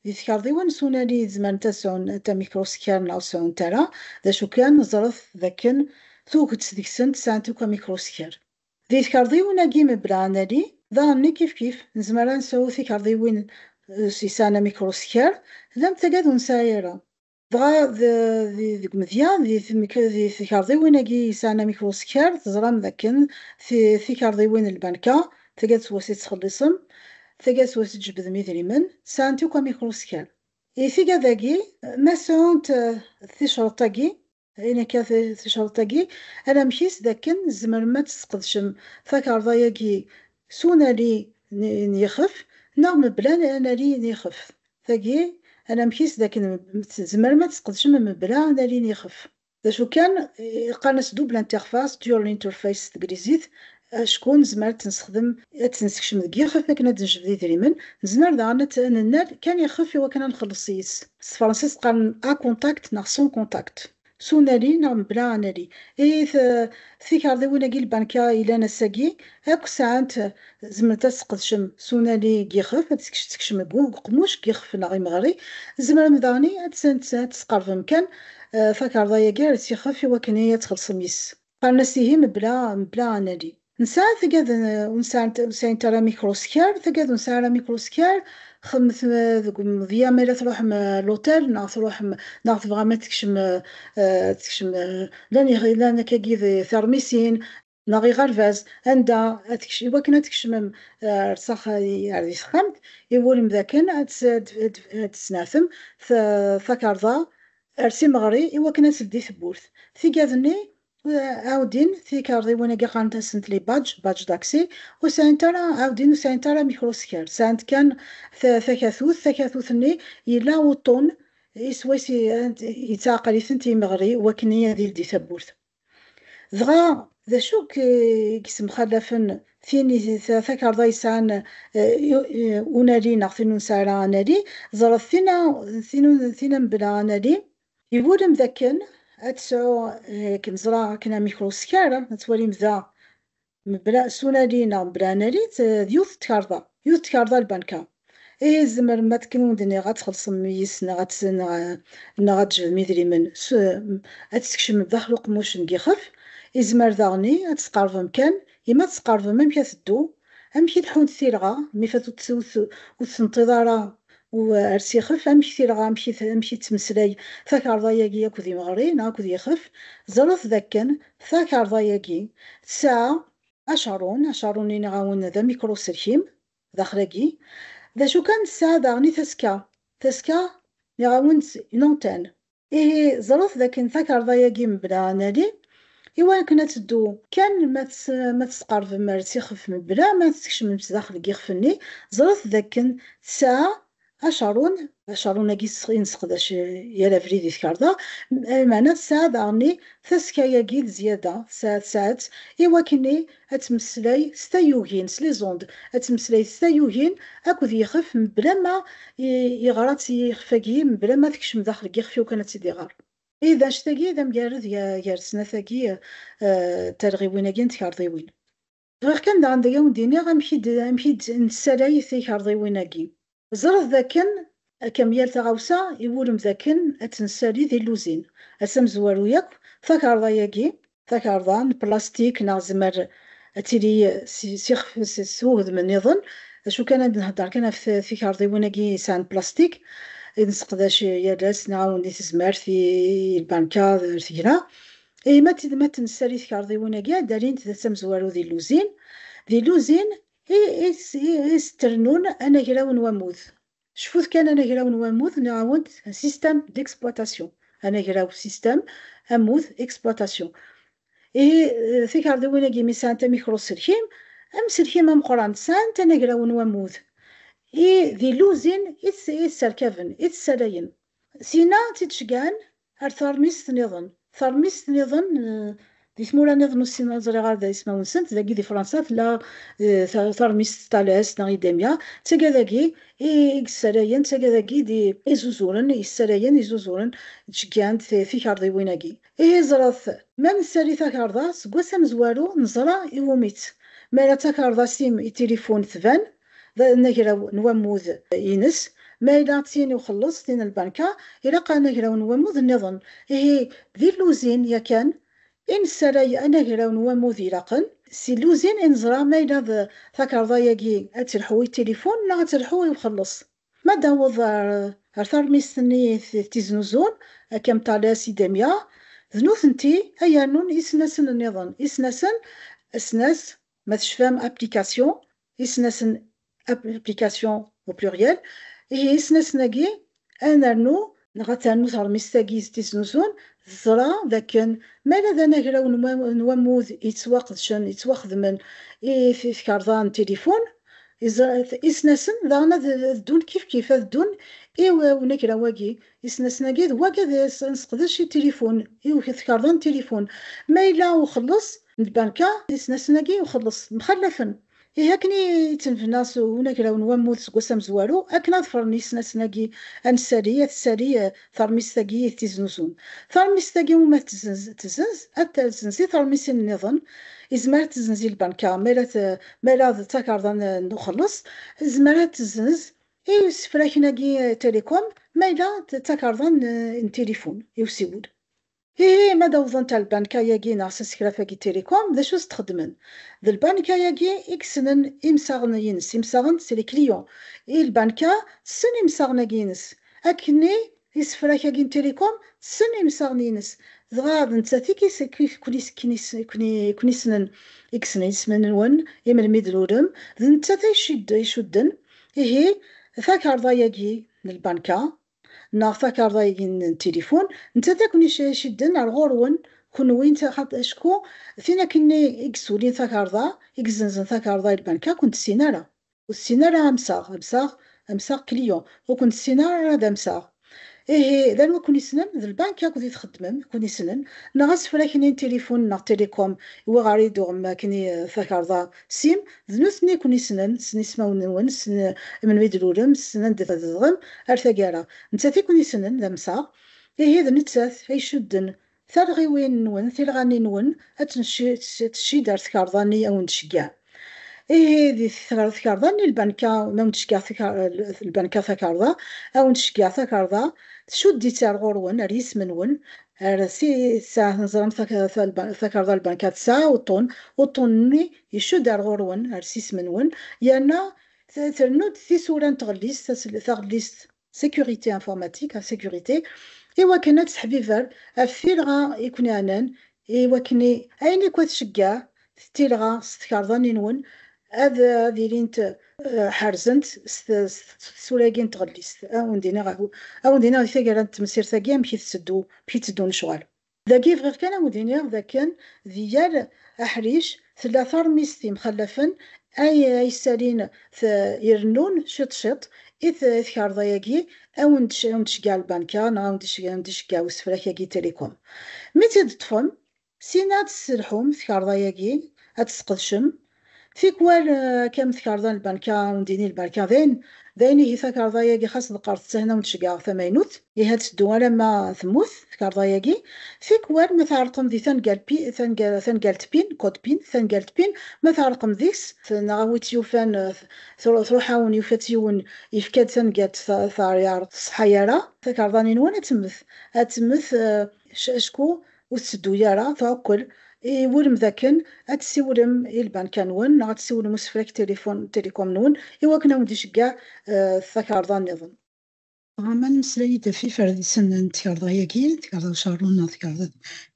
Di tkerḍiwin s unali zemrent ad sɛunt amikruskar neɣ ur sɛunt ara, d acu kan ẓret d akken tuget deg-sent sɛant akk amikruskar. Di tkerḍiwin-agi mebla anali daɣenni kifkif, nezmer ad nesɛu tikerḍiwin yesɛan amikruskar, llant tagad ur nesɛi ara. Dɣa deg umedya, di tikerḍiwin-agi yesɛan amek uskar, teẓram dakken tikerḍiwin n lbanka, taggad s wass i ttxelliṣem, taggad s wass i tjebbdem idrimen, sɛant akk amek uskar. I tiggad-agi, ma sɛunt ticreḍt-agi, ayen akka ticreḍt-agi, anamek-is dakken tzemrem ad tesqedcem takerḍa-agi s unali n yixef neɣ mebla anali n yixef. tagi, anamek-is d akken tzemrem ad t-tesqedcem mebla ad nalin ixef. D acu kan, qqaren-as double interface, dual interface s teglizit, acku nezmer ad t-nessexdem, ad t-nessekcem deg yixef akken ad d-nejbed idrimen, nezmer daɣen ad t-nennal kan ixef iwakken ad nxelleṣ yis-s. S tefransist qqaren à contact neɣ sans contact. S unali neɣ mebla anali. Ihi tikarḍiwin-agi lbanka yellan ass-agi akk sɛant, zemrent ad sqedcem s unali n yixef, ad tekcem deg uqemmuc n yixef neɣ imeɣri. Tzemrem daɣen ad tesqerbem kan takarḍa-agi ar s yixef i wakken ad txellṣem yis-s. Qqaren-as ihi mebla mebla anali. Nesɛa tagad ur nesɛant ur sɛint ara mikruskar, tagad ur nesɛa ara mikruskar, xedmet deg umedya ma yella truḥem luṭel neɣ truḥem neɣ tebɣam ad tekcem ad tekcem llan llan akkagi d teṛmisin neɣ iɣerbaz anda ad tekcem iwakken ad tkecmem ar s axa ar di texxamt iwulem dakken ad ad ad tesneɛtem takarḍa ar timeɣri i wakken ad teldi tewwurt. Tigad-nni ɛawdin tikarḍiwin agi qqarent-asent les badges, badge d'accès, ur sɛint ara, ɛawdin ur sɛint ara micro-skirt, sɛant kan takatut, takatut-nni yella uṭṭun i swayes yettɛaqal-itent yimeɣri wakken ad yeldi tawwurt. dɣa d acu k-yessemxalafen tin takarḍa yesɛan unali neɣ tin ur nesɛi ara anali, ẓret tin-a mebla anali, iwulem dakken ad tesɛu, akken ẓraɣ akken amek ur skar ad twalim da Mebla sunali neɣ mebla analit, d yiwet n tkarḍa, yiwet n tkarḍa n lbanka. Ihi tzemrem ma akken wen-d-nniɣ ad txellṣem yis neɣ ad neɣ neɣ ad d-tejbem idrimen s ad tt-tkecmem daxel uqemmuc n yixef. Izmer daɣen i ad tt-tqerḍbem kan i ma ad tt-tqerḍbem amek ad teddu, amek i leḥḥunt tilɣa mi fat ur tt ur tt ur tt-tenṭiḍ ara U ar s-ixef amek tilɣa, amek i ttmeslay takerḍa-yagi akked imeɣri neɣ akked yixef, ẓret d akken takerḍa-yagi tesɛa acerrun, acerrun iniɣ-awen d amikruselkim daxel-agi, d acu kan tesɛa daɣen i taska, taska niɣ-awen-d une antenne. Ihi ẓret d akken takerḍa-agi mebla anali, i wakken ad teddu kan ma tesqerbem ar ssixef mebla ma tkecmem sdaxel n yixef-nni, ẓret d akken tesɛa acarun, acarun-agi i nesseqdac yal abrid i tkerḍa, lmeɛna tesɛa daɣen tasekka-agi d zyada, tesɛa-tt i wakken i ad temmeslay s tayugin, s les ondes, ad temmeslay s tayugin akked yixef mebla ma yeɣra-tt i yixef-agi, mebla ma tekcem daxel n yixef-iw kan ad tt-id-iɣer. Ih, anect-agi d amgarred gar snat-agi n talɣiwin-agi n tkerḍiwin. Bɣiɣ kan daɣen ad awen-d-iniɣ amek i d-nessalay tikerḍiwin-agi. Ẓret d akken, akka am yal taɣawsa, iwulem d akken ad tt-nessali d illuzin. Ass amezwaru yakk, takerḍa-yagi, takerḍa n plastik neɣ tzemmer ad tili s ixef s wegdem nniḍen, acu kan ad nhedder kan ɣef tikerḍiwin-agi yesɛan plastik, i nseqdac yal ass neɣ awen di tezmert, i lbanka, ar tegla. Ihi ma d tid ma d-nessali tkerḍiwin-agi ad d-alint d tamezwaru d illuzin. D illuzin I s-d-rennun anagraw n wammud. Cfut kan anagraw n wammud, nniɣ-awen-d système d'exploitation, anagraw, système, ammud, exploitation. Ihi tikarḍiwin-agi mi sɛant amikruselkim, amselkim ameqqran, sɛant anagraw n wammud, i d iluzin i t-sserkaben, i t-ssalayen. Syin-a, tt-id-ceggɛen Ar teṛmist niḍen. Teṛmist niḍen di tmura niḍen ur ssineɣ ur ẓriɣ ara ismawen-nsent, dagi di Fransa tella teṛmist Tales neɣ Idemia, d taga dagi i yessarayen, d taga dagi i d-izuzuren, yessarayen, izuzuren, ttceggɛen-d tikerḍiwin-agi. Ihi ẓret, ma nessali takerḍa seg wass amezwaru neẓra iwumi-tt, mi ara d takerḍa s im itilifun tban, d anagraw n wammud ines, ma yella d tin i uxelleṣ, tin n lbanka, ilaq anagraw n wammud nniḍen. Ihi, d illuzin yakan i nessaray anagraw n wammud ilaqen. S illuzin i neẓra ma yella d takarḍa-agi ad telḥu i tilifun neɣ ad telḥu i uxelleṣ. Ma d-taweḍ ɣer tarmist-nni i t-iznuzun, akka am Tales, Idemia, d nutenti ay yernun isnasen nniḍen, isnasen, asnas, ma tecfam application isnasen application au pluriel ihi isnasen-agi ad nernu neɣ ad ternu teṛmist-agi d-tisnusun teẓra d akken mi ara d anagraw n wammud yettwaqedcen yettwaxedmen i tkerḍa n tilifun isnasen daɣen ad ddun kifkif ad ddun i unagraw-agi isnasen-agi d wagi ad nseqdec i tilifun i tkerḍa n tilifun ma yella uxelleṣ n lbanka, isnasen-agi n uxelleṣ mxallafen. Ihi akken i yettnebna s unagraw n wammud seg wass amezwaru, akken ad ffren yisnasen-agi anessali, ad tessali teṛmist-agi i t-iznuzun. Taṛmist-agi umi ad tezzenz, ad tessenz i teṛmisin nniḍen, izmer ad tessenz i lbanka, mi ara d takarḍa n uxelleṣ, tezmer ad tessenz i usefrak-agi Télécom, ma yella d takarḍa n tilifun i usiwel. Ihi ma d awḍent ar lbanka-agi neɣ s asekraf-agi Télécom, d acu i s-d-xeddmen? D lbanka-agi i yessnen imsaɣen-ines, imsaɣen c'est les clients, i lbanka tessen imsaɣen-agi-ines, akkenni isefrak-agi n Télécom tessen imsaɣen-ines, dɣa d nettat i ken-issnen, i yessnen isem-nwen i melmi d-tlulem, d nettat ay icudden, ihi takarḍa-agi n lbanka neɣ takarḍa-agi n tilifun, nettat i ken-icedden ar ɣur-wen kenwi acku tin akken i yessulin takarḍa, i yessenzen takarḍa i lbanka ur ken-tessin ara, ur tessin ara amsaɣ, amsaɣ, amsaɣ, client, ur ken-tessin ara d amsaɣ. Ihi, d anwa i ken-yessnen? D lbanka akked i txeddmem i ken-yessnen, neɣ asefrak-nni n tilifun neɣ telecom iwuɣer i d-tuɣem akken i takarḍa Sim, d nutni i ken-yessnen, ssnen ismawen-nwen, ssnen melmi i d-tlulem, ssnen anda i tzedɣem, ar taggara. Nettat i ken-yessnen, d amsaɣ. Ihi d nettat ay icudden talɣiwin-nwen, tilɣa-nni-nwen, ad tent-tcid ɣer tkerḍa-nni i awen-d-tceggɛen. Ihi di tkerḍa-nni lbanka, ma awen-d-tceggɛen lbanka takerḍa, awen-d-tceggɛen takerḍa, tcudd-itt ar ɣur-wen, ar yisem-nwen, ar tis-a neẓramt takerḍa lbanka tesɛa uṭṭun, uṭṭun-nni icudd ar ɣur-wen, ar sisem-nwen, yerna trennu-d tisura n tɣellist, taɣellist sécurité informatique, a sécurité, i wakken ad tesseḥbiber ɣef tilɣa i ken-iɛnan, i wakken i, ayen akk ad tceggeɛ Ttilɣa s tkarḍa-nni-nwen ad ad ilint ḥerzent s tsura-agi n tɣellist. Ad wen-d-iniɣ ad wen-d-iniɣ di taggara n temsirt-agi amek i tetteddu, amek i tteddun lecɣal. Dagi bɣiɣ kan ad wen-d-iniɣ d akken di yal aḥric tella taṛmist yemxallafen ay ay ssalin t irennun ciṭ ciṭ i t i tkarḍa-agi ad wen ad wen-d-tceggeɛ lbanka neɣ ad wen-d-iceggeɛ usefrak-agi Télécom. Mi tt-id-teṭṭfem Syin ad tesselḥum tkarḍa-yagi, ad tt-tesqedcem. Tikwal akka am tkarḍa n lbanka, undini n lbanka, dayen, dayen ihi takarḍa-yagi xas deqqert ttehna ur nceggeɛ tamaynut. Ihi ad teddu alamma temmut tkarḍa-yagi. Tikwal ma tɛerqem di tangal pi, tangal, tangalt pin, code pin, tangalt pin, ma tɛerqem deg-s, neɣ a wi tt-yufan tru, truḥ-awen, yufa-tt yiwen, yefka-d tangalt ta, ta, ur tṣeḥḥa ara, takarḍa-nni-nwen ad temmet, ad temmet, acku Ur tetteddu ara tɛukkel. Iwulem dakken ad tessiwlem i lbanka-nwen neɣ ad tessiwlem i usefrak tilifun, télécom-nwen, iwakken ad wen-d-iceggeɛ takarḍa niḍen. Dɣa ma nemmeslay-d ɣef yiferdisen n tkarḍa-agi, tkarḍa ucerrun neɣ tkarḍa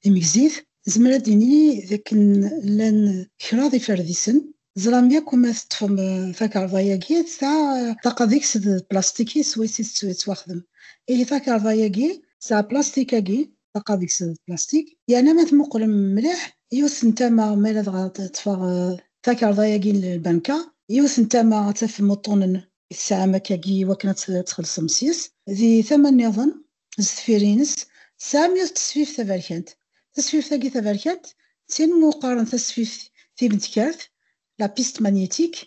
timegzit, nezmer ad d-nini dakken llan kraḍ yiferdisen. Teẓram yakk ma teṭṭfem takarḍa-agi, tesɛa ṭṭaqa deg-s d plastik-is swayes i tettwaxdem. Ihi takarḍa-agi. Tesɛa plastik-agi ṭṭaqa deg-s d plastik, yerna ma temmuqqlem mliḥ, yiwet n tama mi ara dɣa teṭṭfeɣ takarḍa-agi n lbanka, yiwet n tama ad tafem uṭṭunen i tesɛam akkagi i wakken ad txellṣem sys, di tama nniḍen, sdeffir-ines, tesɛam yiwet n tesfift taberkant. Tasfift-agi taberkant d tin meqqaren tasfift timedkart, la piste magnétique,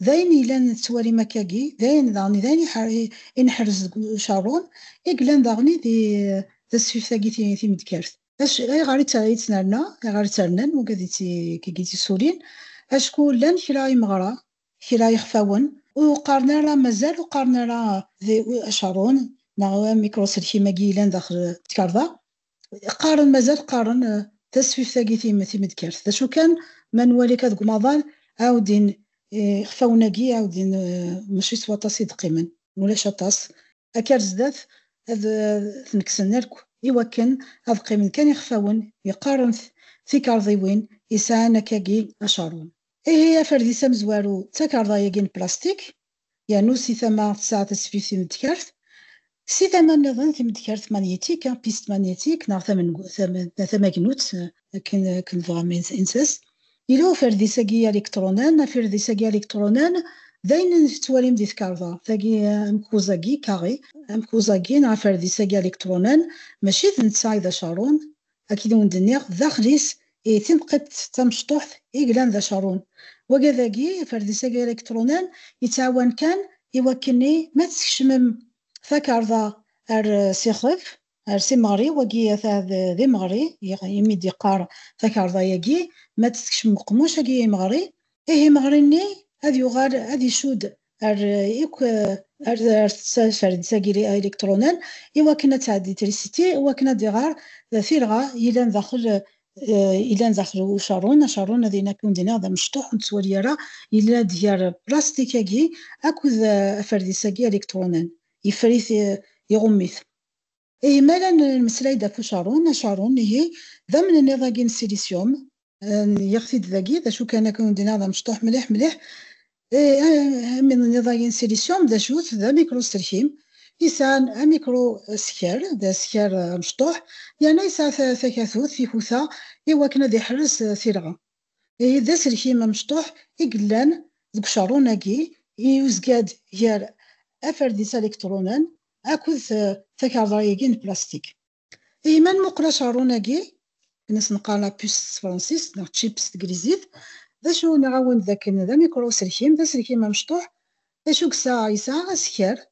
d ayen yellan tettwalim akkagi, d ayen daɣen d ayen i neḥrez deg ucerrun, i yellan daɣen i d tasfift-agi timedkart. Ayɣer i tt-nerna, ayɣer i tt-rnan wagi i d-yessulin? Acku llan kra imeɣra, kra ixfawen, ur qqaren ara, mazal ur qqaren ara d acerrun neɣ d amikruselkim-agi yellan daxel tkerḍa, qqaren mazal qqaren eh, tasfift-agi timedkert d acu kan ma nwali ka deg umaḍal ɛawdin eh, ixfawen-agi ɛawdin eh, mačči s waṭas i d-qqimen ulac aṭas akka ar zdat ad ten-kksen akk iwakken ad qqimen kan ixfawen yeqqaren tikarḍiwin yesɛan akkagi acarum ihi aferdis amezwaru d takarḍa-agi n plastik yernu si tama tesɛa tasfift timedkart, si tama nniḍen timedkart manyetik, piste magnétique, neɣ tamagnut akken tebɣam inses. Yella uferdis-agi alikṭrunan, afirdis-agi alikṭrunan d ayen i tettwalim di tkarḍa, tagi amekkuẓ-agi, carré, amekkuẓ-agi neɣ aferdis-agi alikṭrunan mačči d netta i d acarun, Akken i wen-d-nniɣ, daxel-is i timqidt tamecṭuḥt i yellan d acerrun. Wagi dagi, iferdis-agi ilikṭrunan, yettɛawan kan i wakken-nni ma teskecmem takarḍa ar s ixef, ar s imeɣri, wagi ata d imeɣri imi d-yeqqar takarḍa-agi, ma d-teskecmem uqemmuc-agi imeɣri, ihi imeɣri-nni ad yuɣal ad icudd ar yakk ar tettcacar d tagiri aélectronen i wakken ad tɛeddi trisiti i wakken ad iɣer tirɣa yellan daxel yellan daxel ucerrun acerrun ad yini akken d-iniɣ d amecṭuḥ ur nettwali ara yella-d gar plastik-agi akked aferdis-agi aélectronen yeffer-it iɣumm-it Ihi mi ara nemmeslay-d ɣef ucaṛun, acaṛun, ihi, d amnenniḍ-agi n silisyum, nniɣ-t-id dagi, d acu kan akken ur d-nniɣ d amecṭuḥ mliḥ mliḥ, amnenniḍ-agi n silisyum d acu-t? D amikrusterkim, yesɛan amikruskar, d askar amecṭuḥ, yerna yesɛa takatut, tikuta, iwakken ad iḥrez tirɣa. Ihi d aselkim amecṭuḥ i yellan deg ucerrun-agi yuzga-d gar aferdis aliktṛunan akked takarḍa-agi n plastik. Ihi ma nmuqel acerrun-agi, akken i s-neqqar la puce s tefransist neɣ chip s teglizit, d acu? Nniɣ-awen-d dakken d amikṛu-uselkim, d aselkim amecṭuḥ. D acu yesɛa? Yesɛa askar.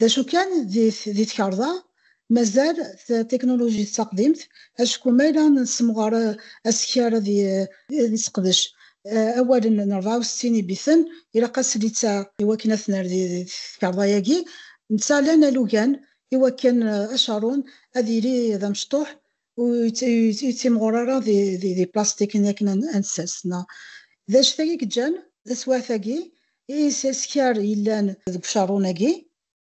D acu kan, di tkerḍa, mazal tikunulujit d taqdimt, acku ma yella nessemɣer asekar ad yesseqdec awalen n rebɛa u settin ibiten, ilaq ad s litta i wakken ad tner di tkerḍa-agi, netta lan alugen i wakken acarun ad yili d amecṭuḥ ur yettimɣur ara di plastikin akken ad nessers neɣ d acu-t ay yeǧǧan taswiɛt-agi i yesskar yellan deg ucerrun-agi,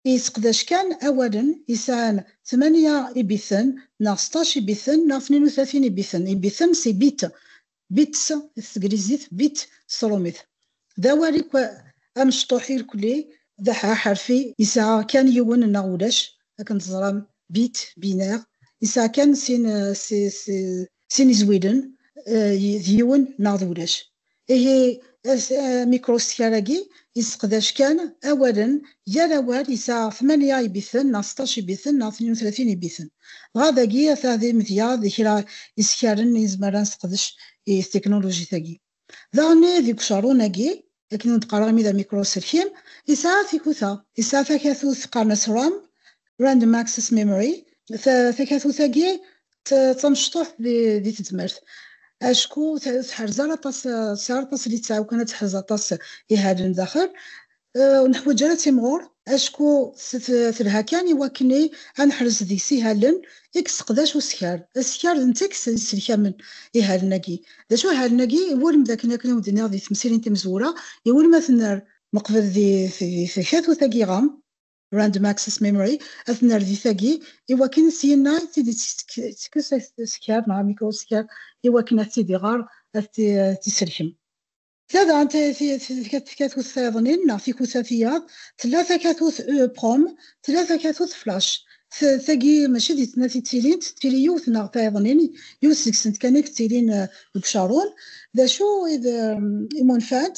yesseqdac kan awalen yesɛan tmanya ibiten neɣ seṭṭac ibiten neɣ tnin u tlatin ibiten, ibiten c'est bit, Bits, s teglizit, bit, s trumit. D awal i kwa amecṭuḥ irkli, d aḥerfi yesɛa kan yiwen neɣ ulac, akken teẓram, bit, binaire, yesɛa kan sin, sin izwilen, d yiwen neɣ d ulac. Ihi, amikrustiker-agi Yesseqdac kan awalen, yal awal yesɛa tmanya ibiten neɣ seṭṭac ibiten neɣ tnin u tlatin ibiten. Dɣa dagi ata d imedya d kra isekaren i nezmer ad nesseqdec i ttiknulujit-agi. Daɣenni deg ucerrun-agi, akken ur d-qqareɣ imi d amikru-uselkim, yesɛa tikuta. Yesɛa takatut qqaren-as ram, Random Access Memory, takatut-agi d tamecṭuḥt di tezmert, acku ur teḥrez ara aṭas, tesɛa aṭas litteɛ ukan ad teḥrez aṭas ihalen daxel, ur neḥwaǧ ara ad timɣur, acku telha kan i wakken ad neḥrez deg-s ihalen i yesseqdac uskar. Askar d netta i yesselkamen ihalen-agi. D acu ihalen-agi? Iwulem d akken, akken i wen-d-nniɣ di temsirin timezwura, iwulem ad ten-nerr. Neqbel di takatut-agi ɣam. random access memory ad nerr di tagi iwakken s yinna i tid tekkes askar neɣ mikroskar iwakken ad tid iɣer ad tiselkem tlada takatut tayeḍnin neɣ tikuta tiyaḍ tella takatut prom tella takatut flash tagi mačči di tnati ttilint tili yiwet neɣ tayeḍnin yiwet seg-sent kan i yettilin deg ucarun d acu i d imunfant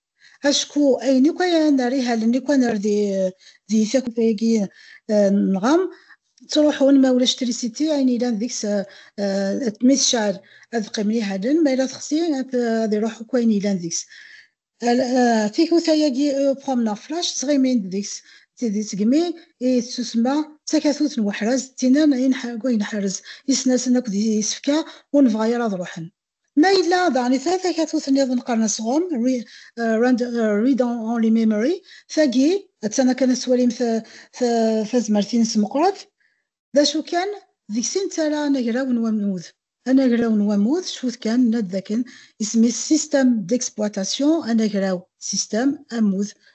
acku ayen akk ay nerr ihalen akk ay nerr di di takuta-agi nɣa ttruḥun ma ulac trisiti ayen yellan deg-s mi tecɛel ad qqimen ihalen ma yella texsi ad iruḥ akk ayen yellan deg-s tikuta-agi uprom neɣ flash ttɣimin-d deg-s d segmi i tettusma d takatut n weḥraz d tinan i nḥerrez isnasen akk d isefka ur nebɣa ara ad ruḥen. Ma yella daɣen i tala takatut-nniḍen qqaren asɣum, read only memory, tagi attan akken ad twalimt tazmert-ines meqqret, d acu kan, deg-s i nettarra anagraw n wammud. Anagraw n wammud, cfut kan, nenna-d dakken isem-is système d'exploitation, anagraw, système, ammud,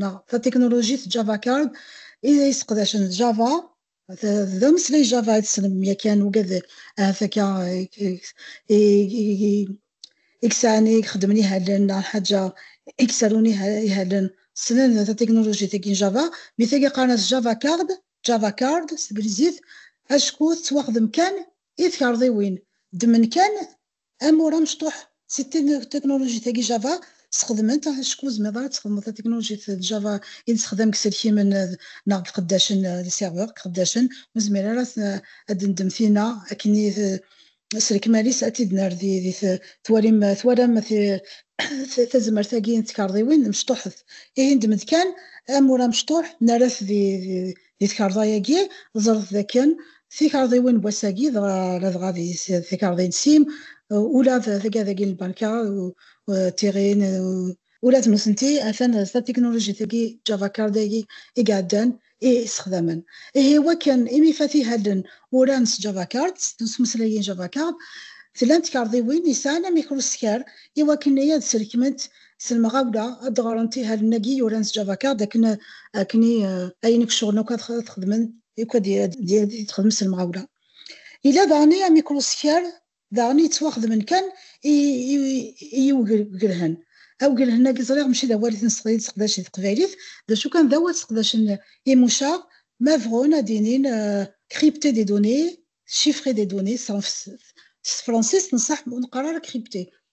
neɣ tatiknulujit Java Card i yesseqdacen Java, d ameslay Java i tessnem yakan ugad ahat akka i yesɛan i ixeddmen ihalen neɣ lḥaǧa i yesarun ihalen ssnen tatiknulujit-agi n Java, mi tagi qqaren-as Java Card, Java Card s teglizit, acku tettwaxdem kan i tkerḍiwin, ddmen kan Amur amecṭuḥ si technologie tagi Java sxedment acku tzemreḍ ara tesxedmeḍ technologie d Java i nessexdam deg iselkimen neɣ deg iqeddacen d serveurs deg iqeddacen ur nezmir ara ad d-nendem tina akken i s lekmal-is ad t-id-nerr di twalim twalam tazmert agi n tkarḍiwin mecṭuḥet ihi nedem-d kan amur amecṭuḥ nerra-t di Di tkerḍa-agi, ẓret dakken tikerḍiwin n wass-agi, dɣa ladɣa d tikerḍin sim, ula d tagadagi n lbanka, d tiɣin, ula d nutenti atan d tatiknulujit-agi Java Card-agi i iɛeddan i ssexdamen. Ihi i wakken imi fatihallen uran s Java Card, ttmeslayen Java Card, tlan tkerḍiwin yesɛan amikruskar i wakken i ad srekment s lemɣawla ad d-ɣrent ihalen-agi yuran s Java Card akken akken i ayen i iceɣlen akk ad t-xedmen akk ad t-xedmen s lemɣawla. Yella daɣen i amikruskar daɣen yettwaxedmen kan i i yiwgelhen. Awgelhen-agi ẓriɣ mačči d awal i t-nesseqdacen teqbaylit, d acu kan d awal sseqdacen imucaɣ ma bɣun ad d-inin crypter des données, chiffrer des données, s tefransist nṣaḥ ur neqqar ara crypter,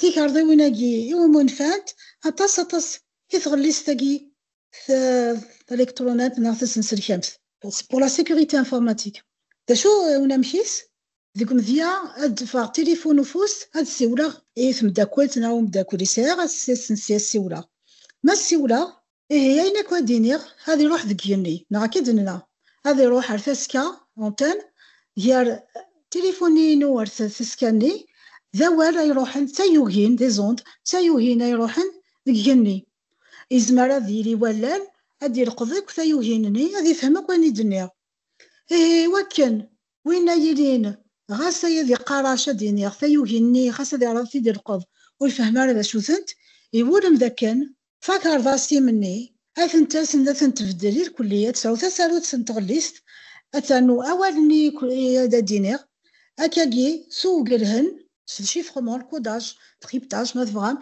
tikarḍiwin-agi i wumi nfant aṭas aṭas i tɣellist-agi talikṭrunant neɣ tasenselkamt. C'est pour la sécurité informatique. D acu eh, unamek-is? Deg umedya ad d-ffeɣ tilifun ufus ad siwleɣ i tmeddakelt neɣ umeddakel i sɛiɣ ad siwleɣ. Ma siwleɣ Ihi ayen akk ad d-iniɣ ad iruḥ deg yigenni, neɣ akka i d-nenna, ad iruḥ ar taska, antenne, gar tilifuni-inu ar taska-nni, d awal ay iruḥen, d tayugin, des ondes, d tayugin ay iruḥen deg yigenni. Yezmer ad yili wallal ad d-yelqeḍ akk tayugin-nni, ad yefhem akk ayen i d-nniɣ. Ihi i wakken win ay yilin ɣas ay ad iqqar acu ad d-iniɣ, tayugin-nni xas ad iɛreḍ ad t-id-yelqeḍ, ur ifehhem ara d acu-tent, iwulem d akken Takarḍa s timenni, ad tent-asen ad tent-tbeddel irkelli, ad tesɛu tasarut n tɣellist, ad ternu awal-nni ad d-iniɣ, akkagi s uwgelhen, s chiffrement, le codage, triptage ma tebɣam,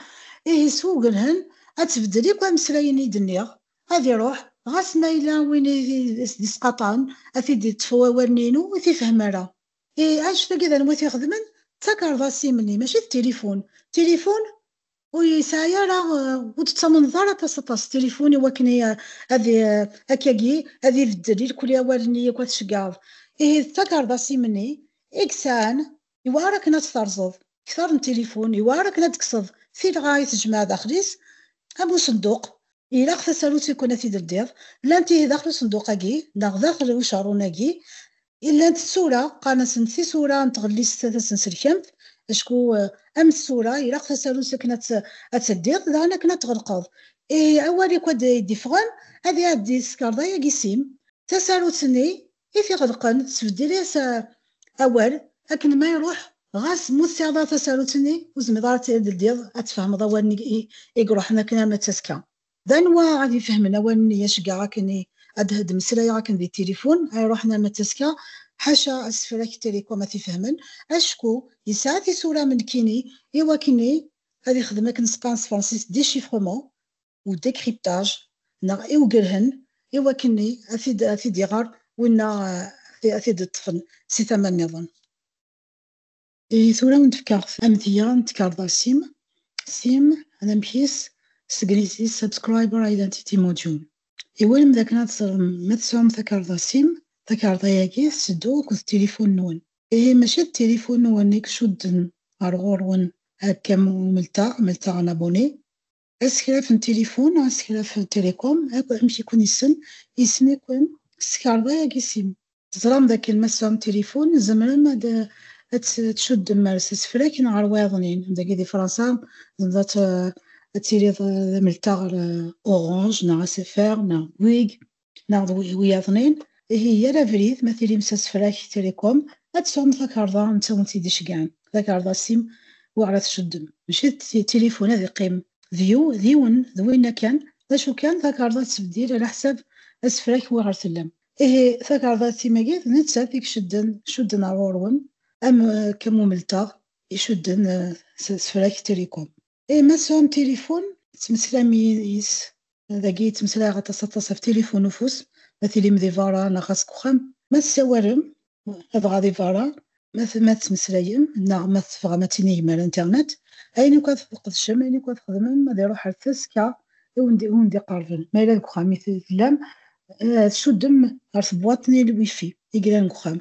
ihi s uwgelhen ad tbeddel akk ameslay-nni i d-nniɣ, ad iruḥ, ɣas ma yella win i t-id-yesqaṭɛen ad t-id-yeṭṭef wawal-nni-inu ur t-ifehhem ara. Ihi annect-agi d anwa i t-ixedmen? D takarḍa s timenni, mačči d tilifun. Tilifun ur yesɛi ara ur tettamneḍ ara taseḍḍa s tilifun iwakken ad akkagi ad ibeddel ilkli awalen-nni akk ad tceggɛeḍ. Ihi d takarḍa s imenni i yesɛan, yewɛer akken ad tt-terẓeḍ, kter n tilifun yewɛer akken ad d-tekkseḍ tilɣa i tejmaɛ daxel-is am usenduq Ilaq tasarut i kun ad t-id-ldiḍ. Llant ihi daxel usenduq-agi, neɣ daxel ucerrun-agi. I llant tsura, qqaren-asent tisura n tɣellist tasenselkamt, acku am tsura, ilaq tasarut akken ad tt-ldiḍ, daɣen akken ad tɣelqeḍ. Ihi awal i kua d-iffɣen, ad iɛeddi s tkerḍa-agi sim. Tasarut-nni i t-iɣelqen tesbeddel-as awal akken ma iruḥ ɣas mu tesɛiḍ tasarut-nni ur tezmireḍ ara ad tledyeḍ ad tfehmeḍ awalen i iruḥen akken arma d tasekka. D anwa ad ifehmen awalen i aceggeɛ akken ad d-mmeslayeɣ akken di tilifun a iruḥen arma d tasekka? Ḥaca asefrak n Télécom ad t-ifehmen acku yesɛa tisura am nekkini i wakken ad ixdem akken seqqaren s tefransist déchiffrement. u décryptage neɣ i ugelhen i wakken-nni ad t-id-iɣer winna ad t-id-ṭṭfen si tama nniḍen. I tura ur d-fkaɣ amedya n tkerḍa sim, sim, anamek-is s teglizit Subscriber Identity Module. Iwulem d akken ad teẓrem ma tesɛum takerḍa sim, takerḍa-agi tetteddu akked tilifun-nwen. Ihi mačči d tilifun-nwen i icudden ɣer ɣur-wen akka am umelteɣ, melteɣ un abonné, asekraf n tilifun neɣ asekraf n télécom akk amek i ken-issen, yessen-iken s tkarḍa yak issin teẓram dakken ma tesɛum tilifun tzemrem ad ad tcuddem ar s asefrak neɣ ar wayeḍnin, dagi di Fransa tzemreḍ ad ad tiliḍ d ameltaɣ ar Orange neɣ SFR neɣ Bouygues neɣ d wiyaḍnin, ihi yal abrid ma tilim s asefrak tirikom, ad tesɛum takarḍa netta wen tt-id-iceggan, takarḍa sim wi ara tceddem, mačči d tilifun ad iqqim d yiwen d winna kan, d acu kan takarḍa tettbeddil ala ḥsab asefrak wi ɣer tellam. Ihi takarḍa d timagi d nettat i icedden, cudden ar ɣur-wen, am Kamumelteɣ icudden s asefrak tirikom. Eh, ma tesɛum tilifun, tettmeslam yis. Dagi yettmeslay aṭas aṭas ɣef tilifun ufus, ma tilim di berra neɣ ɣas deg uxxam. Ma tessawalem, dɣa di berra, ma ma tettmeslayem neɣ ma tebɣam ad tinigem ar internet, ayen akk ad tqedcem, ayen akk ad txedmem, ad iruḥ ar tasekka i wen-d-iqerben. Ma yella deg uxxam i tellam, eh, tcuddem ɣer tebwaḍt n il-wifi i yellan deg uxxam.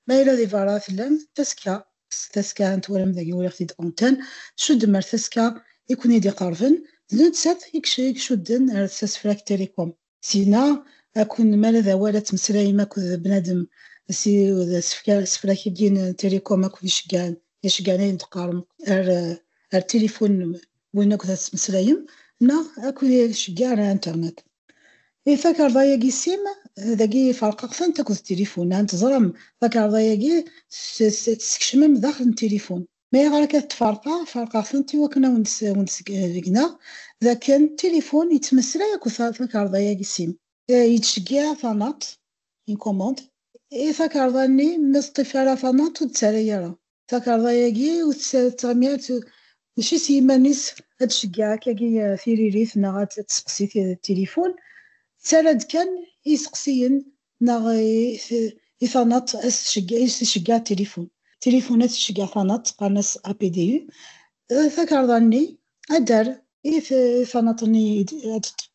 Ma yella di berra tellam, tasekka s taska n twalam dagi uriɣ-t-id antan cuddem ar taska i ken-id iqerben d nettat i icudden ar tsasfrakt télécom. Syin-a akk-n mi ara d awal ad tmeslayem akked d bnadem si d asefrak-agi n télécom akk-n iceggɛen iceggɛen ayen d-teqqarem ar ar tilifun win akked ad tmeslayem neɣ akk-n iceggɛen ar internet. I takarḍa-agi sim, dagi ferqeɣ-tent akked tilifun, ahat teẓram takarḍa-agi tessekcem-am daxel n tilifun. Ma ayɣer akka t-ferqeɣ? Ferqeɣ-tent i wakken ad wen-d-sbegneɣ d akken tilifun yettmeslay akked takarḍa-agi sim. Yettceggiɛ tanaḍt, une commande, i takarḍa-nni ma teṭṭif ara tanaḍt ur d-ttarra ara. takarḍa-agi ur tettɣimirt mačči s yiman-is ad d-ceggeɛek agi tiririt neɣ ad d-tesqsi tilifun, tettarra-d kan i yiseqsiyen neɣ i tanaḍt ad s-tceggeɛ tilifun. Tilifun ad s-tceggeɛ tanaḍt, qqaren-as APDU, takarḍa-nni ad d-terr. I tanaḍt-nni ad d-teṭṭef.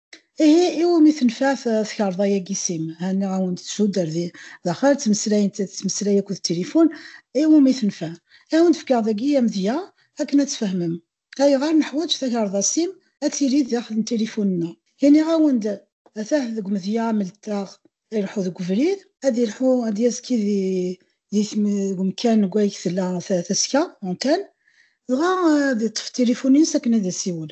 Ihi iwumi tenfeɛ tkarḍa-agi sim? Henniɣ-awen-d tuddar di daxel, ttmeslayen tettmeslay akked tilifun, iwumi tenfeɛ? I awen-d-fkeɣ dagi amedya akken ad tfehmem ayɣer neḥwaǧ takarḍa sim ad tili di daxel n tilifun-nneɣ. Iniɣ-awen-d atah deg umedya amletteɣ ileḥḥu deg ubrid, ad ileḥḥu ad d-yazki di umekkan deg wayeg tella taska, antenne, dɣa ad iṭṭef tilifun-is akken ad isiwel.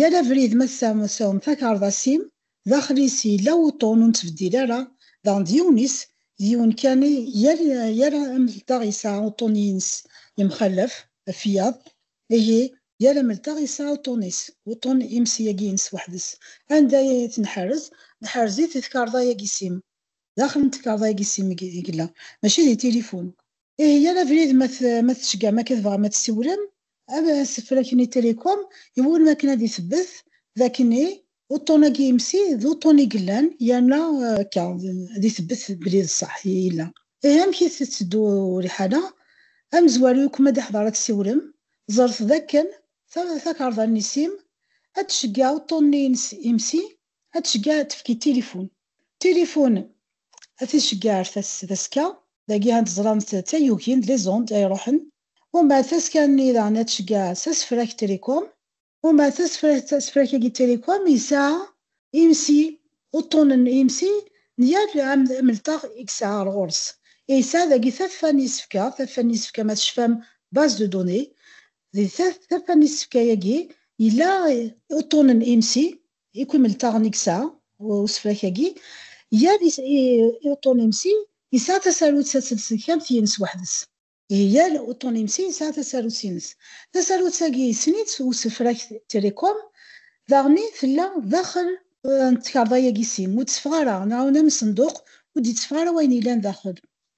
Yal abrid ma tesɛum takerḍa-s-im, daxel-is yella wuṭṭun ur nettbeddil ara, daɣen d yiwen-is, d yiwen kan, yal yal amelteɣ yesɛa uṭṭun-ines yemxalaf, ɣef wiyaḍ, ihi yal amelteɣ yesɛa uṭṭun-is, wuṭṭun imes yagi-ines weḥd-s. Anda i t-nḥerrez? Nḥerrez-it di tkerḍa-yagi-s-im, daxel n tkerḍa-yagi-s-im i yella, mačči di tilifun. Ihi yal abrid ma tecgam akka tebɣam ad tessiwlem, ad as-flaken i Télécom iwulem akken ad isebbet d akken i uṭṭun-agi imsi d uṭṭun i yellan yerna akka ad isebbet belli d ṣṣeḥ i yella. Ihi amek i tetteddu liḥala? Amezwaru yakk ma d-iḥḍer ad tessiwlem, ẓret d akken takarḍa n isim ad tceggeɛ uṭṭun-nni-ines imsi, ad tceggeɛ ad tefk i tilifun. Téléphone, a ticeggaɛt taseska, dagi ad ẓrant tayugin, les ondes, ay iruḥen, umbeɛd taska-nni daɣen ad tceggeɛ s asefrak télécom, umbeɛd tasefrakt, asefrak-agi télécom yesɛa imsi, uṭṭunen n yimsi n yal amelṭaɣ i yesɛa ɣer ɣur-s, i yesɛa dagi taffa n yisefka, taffa n yisefka ma tecfam base de données, di taffa n yisefka-agi yella uṭṭunen n yimsi, Ikk imeltaɣen i yesɛa usefrak-agi gar i-uṭunimsi yesɛa tasarut taselselkamt yines weḥd-s. Ihi yal uṭunimsi yesɛa tasarut-ines. Tasarut-agi yessen-itt usefrak Telecom, daɣen i tella daxel n tkerḍa-agi sim ur d-teffeɣ ara, neɣ n amsenduq ur d-yetteffeɣ ara wayen yellan daxel.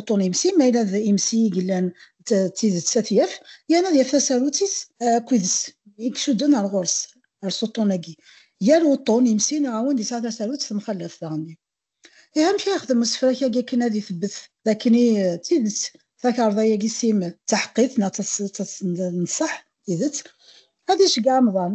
uṭun-ims, ma yella d ims i yellan d tidet ad t-yaf, yerna ad yaf tasarut-is akked i icudden ar ɣur-s, ar s uṭun-agi. Yal uṭun, ims-i neɣ awend yesɛa tasarut temxallaf daɣen-i. Ihi amek ara yexdem usefrak-agi akken ad itebbet d akken i d tidet takarḍa-agi sim d taḥeqqit neɣ d taṣṣeḥ, tidet? Ad iceggeɛ amḍan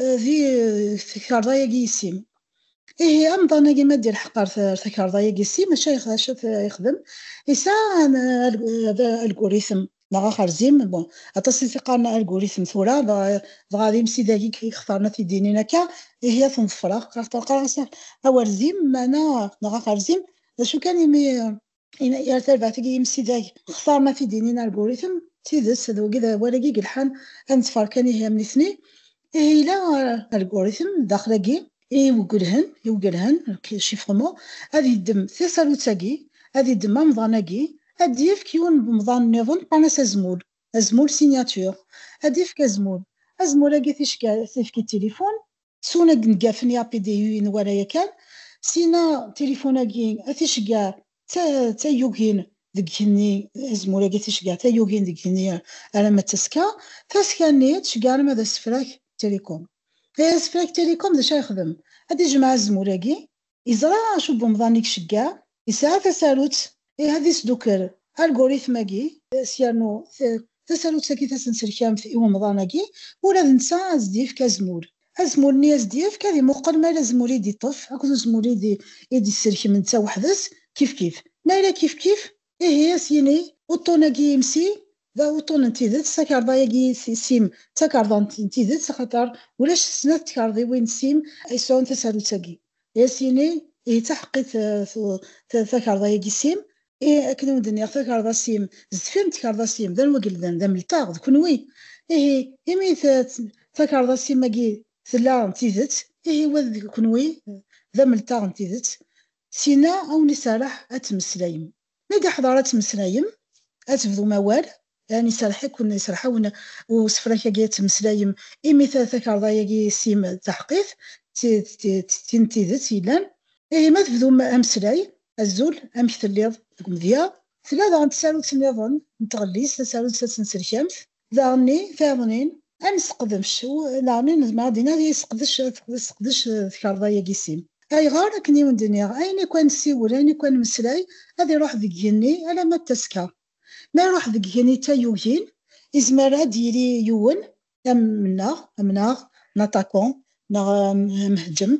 eh, di takarḍa-yagi yessim. Ihi amḍan-agi ma d-ilḥeq ɣer takarḍa-yagi yessim, acu yexdem? Yesɛa alguritm neɣ axerzim, bon, aṭas i t-iqqaren alguritm tura, dɣa d imsidagi yextaren ad t-id-inin akka, ihi ad ten-ḍefreɣ, qqareɣ-as awerzim, meɛna neɣ axerzim, d acu kan imi yar tarbaɛt i yimsidag xtar ma t-id-inin algorithm d tidet d wagi d awal-agi i yelḥan ad nettfar kan ihi am nitni ihi yella algorithm daxel-agi iwgelhen iwgelhen chiffrement ad yeddem tasarut-agi ad yeddem amḍan-agi ad d-yefk yiwen n umḍan niḍen qqaren-as azmul azmul signature ad d-yefk azmul azmul-agi ticki ad t-yefk i tilifun Suna d-ngafen yapidiyu i nwala yakan, sina tilifun-agi a t-iceggeɛ tayugin deg igenni, azemmur-agi a t-iceggeɛ tayugin deg igenni alamma d tasekka, tasekka-nni a tceggeɛ alamma d asefrak Telecom. Asefrak Telecom d acu ara yexdem? Ad d-ijemmeɛ azemmur-agi Yeẓra acu n umḍan i iceggeɛ, yesɛa tasarut ih ad isdukker algorithm-agi, s yernu tasarut-agi tasenselkamt i umḍan-agi ula d netta ad as-d-yefk azmul, azmul-nni as-d-yefk ad imuqel ma yella azmul i d-iṭṭef akked uzmul i d-isselkem netta weḥd-s kifkif, ma yella kifkif Ihi a s-yini, uṭṭun-agi imsi, d uṭṭun n tidet, takarḍa-agi sim, d takarḍa n tidet, axaṭer ulac snat tkarḍiwin n sim ay yesɛun tasarut-agi. Ihi a s-yini, Ihi d taḥeqqit takarḍa-agi sim? Ihi, akken i wen-d-nniɣ, takarḍa sim sdeffir n tkarḍa sim, d anwa i ilemden? D amelṭaɣ, d kenwi. Ihi, imi takarḍa sim-agi tella d tidet, ihi wa d kenwi d amelṭaɣ n tidet. Syin-a a wen-iserreḥ ad temmeslayem. Mi d-iḥḍer ad temmeslayem, ad tebdum awal, yani iserreḥ-iken, iserreḥ-awen usefrak-agi ad temmeslayem imi takarḍa-agi s-im d taḥeqqit, d tin n tidet yellan. Ihi ma tebdum ameslay, Azul, amek telliḍ? Deg umedya. Tella daɣen tsarut-nniḍen n tɣellist, tasarut-a d tenselkamt. daɣenni taɣnin ad nesqedec daɣenni nezmer ad d-iniɣ yesqedec tesqedec tkerḍa-yagi sin ayɣer akken i wen-d-nniɣ ayen akk ad nsiwel ayen akk ad nmeslay ad iruḥ deg yigenni alamma d tasekka ma iruḥ deg yigenni d tayugin izmer ad d-yili yiwen am mennaɣ amnaɣ n aṭakun neɣ amhejjem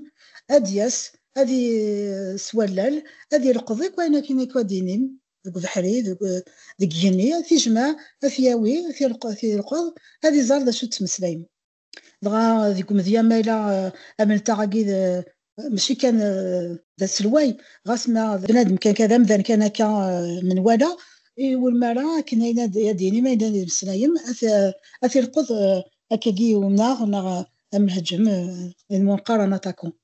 ad d-yas ad i s wallal ad ileqḍ akk ayen akken akk ad d-inim deg ubeḥri, deg igenni, ad t-ijmeɛ, ad t-yawi, ad t-ileqeḍ, ad iẓer d acu d-ttmeslayen. Dɣa deg umedya ma yella ameltaɣ-agi mačči kan d aselway, ɣas ma d bnadem kan, d amdan kan akka menwala, iwulem ara akken ayen ad d-yini, ma yella ad d-yemmeslayen, ad t-ileqeḍ akkagi i umnaɣ neɣ am lheǧǧem, d ayen qqaren aṭaku.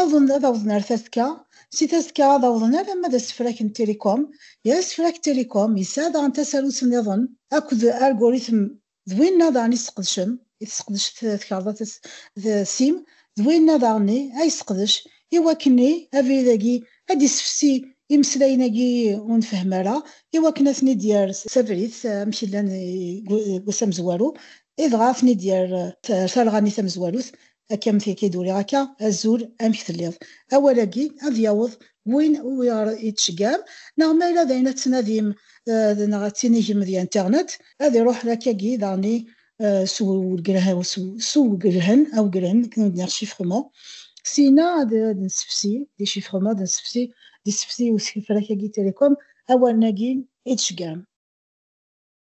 Awḍen ad awḍen ar tasekka, si tasekka ad awḍen alamma d asefrak n Telecom, yer asefrak Telecom yesɛa daɣen tasarut nniḍen akked argorithm d winna daɣen i sseqdcen, i tesseqdec tkerḍa d sim, d winna daɣen i ay sseqdec i wakken i abrid-agi ad d-issefsi imeslayen-agi i ur nfehhem ara i wakken ad ten-id-yerr s abrid amek llan deg wass amezwaru i dɣa ad ten-id-yerr ar talɣa-nni tamezwarut Akka am tigi i d-uriɣ akka, Azul, amek telliḍ? Awal-agi ad yaweḍ win umi ɣ-id-tceggɛem, neɣ ma yella d ayen ad tettnadim neɣ ad tinigem di internet, ad iruḥ lakkagi daɣen s uwgelhen, awgelhen, nous venons de dire chiffrement, syin-a ad d-nessefsi, di chiffrement, ad nessefsi, d isefsi n usekfel-akagi Télécom, awalen-agi i d-tceggɛem.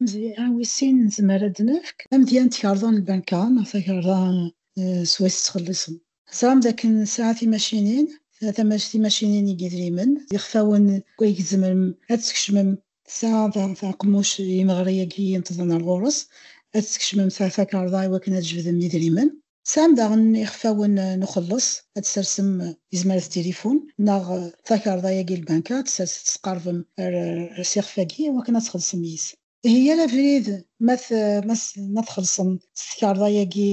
Amedya wis sin nezmer ad d-nefk. Amedya n tkerḍa n lbanka neɣ takerḍa s way tettxelliṣem. Teẓram dakken nesɛa timacinin, timacinin n yidrimen, d ixfawen aydeg tzemrem ad tkecmem, tesɛa taqemmuct n yimeɣri-agi yenṭḍen ar ɣur-s, ad tkecmem takerḍa i wakken ad jebdem idrimen. Tesɛam daɣen ixfawen n uxelleṣ ad tsersem izmer d tilifun neɣ takarḍa-agi n lbanka ad tsers ad tesqerbem ar s ixef-agi iwakken ad txellṣem yis. Ihi yal abrid ma txellṣem s tkarḍa-agi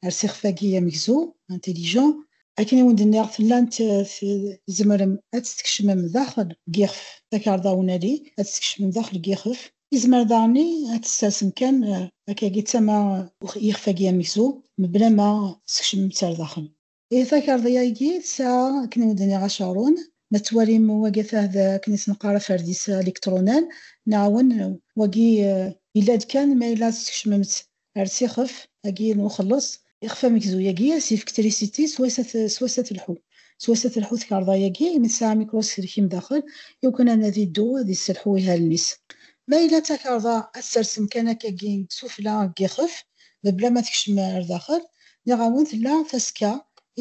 ar s ixef-agi amegzu, intelligent, akken i wen-d-nniɣ tellam tzemrem ad tt-tkecmem daxel n yixef, takarḍa unali ad tt-tkecmem daxel n yixef, Izmer daɣen ad t-ssersen kan akkagi d tama yixef-agi amekzu, mebla ma skecmen-t s ar daxel. Ihi takarḍi-agi tesɛa akken ur d-nniɣ acaṛun, ma tettwalim wagi atah d akken i s-neqqar aferdis alikṭrunan, neɛwen, wagi yella-d kan ma yella teskecmem-tt Ar tixef agi n uxelleṣ, ixef amegzu-agi ad s-yefk trisiti s wass ad telḥu. S wass ad telḥu tkarḍa-agi imi tesɛa microselkim daxel, iwakken anadi iddu ad yesselḥu ihalen-is. Ma yella takarḍa ad tserrsem kan akkagi sufella deg yixef, mebla ma tekcem ar daxel, nniɣ-awen tella tasekka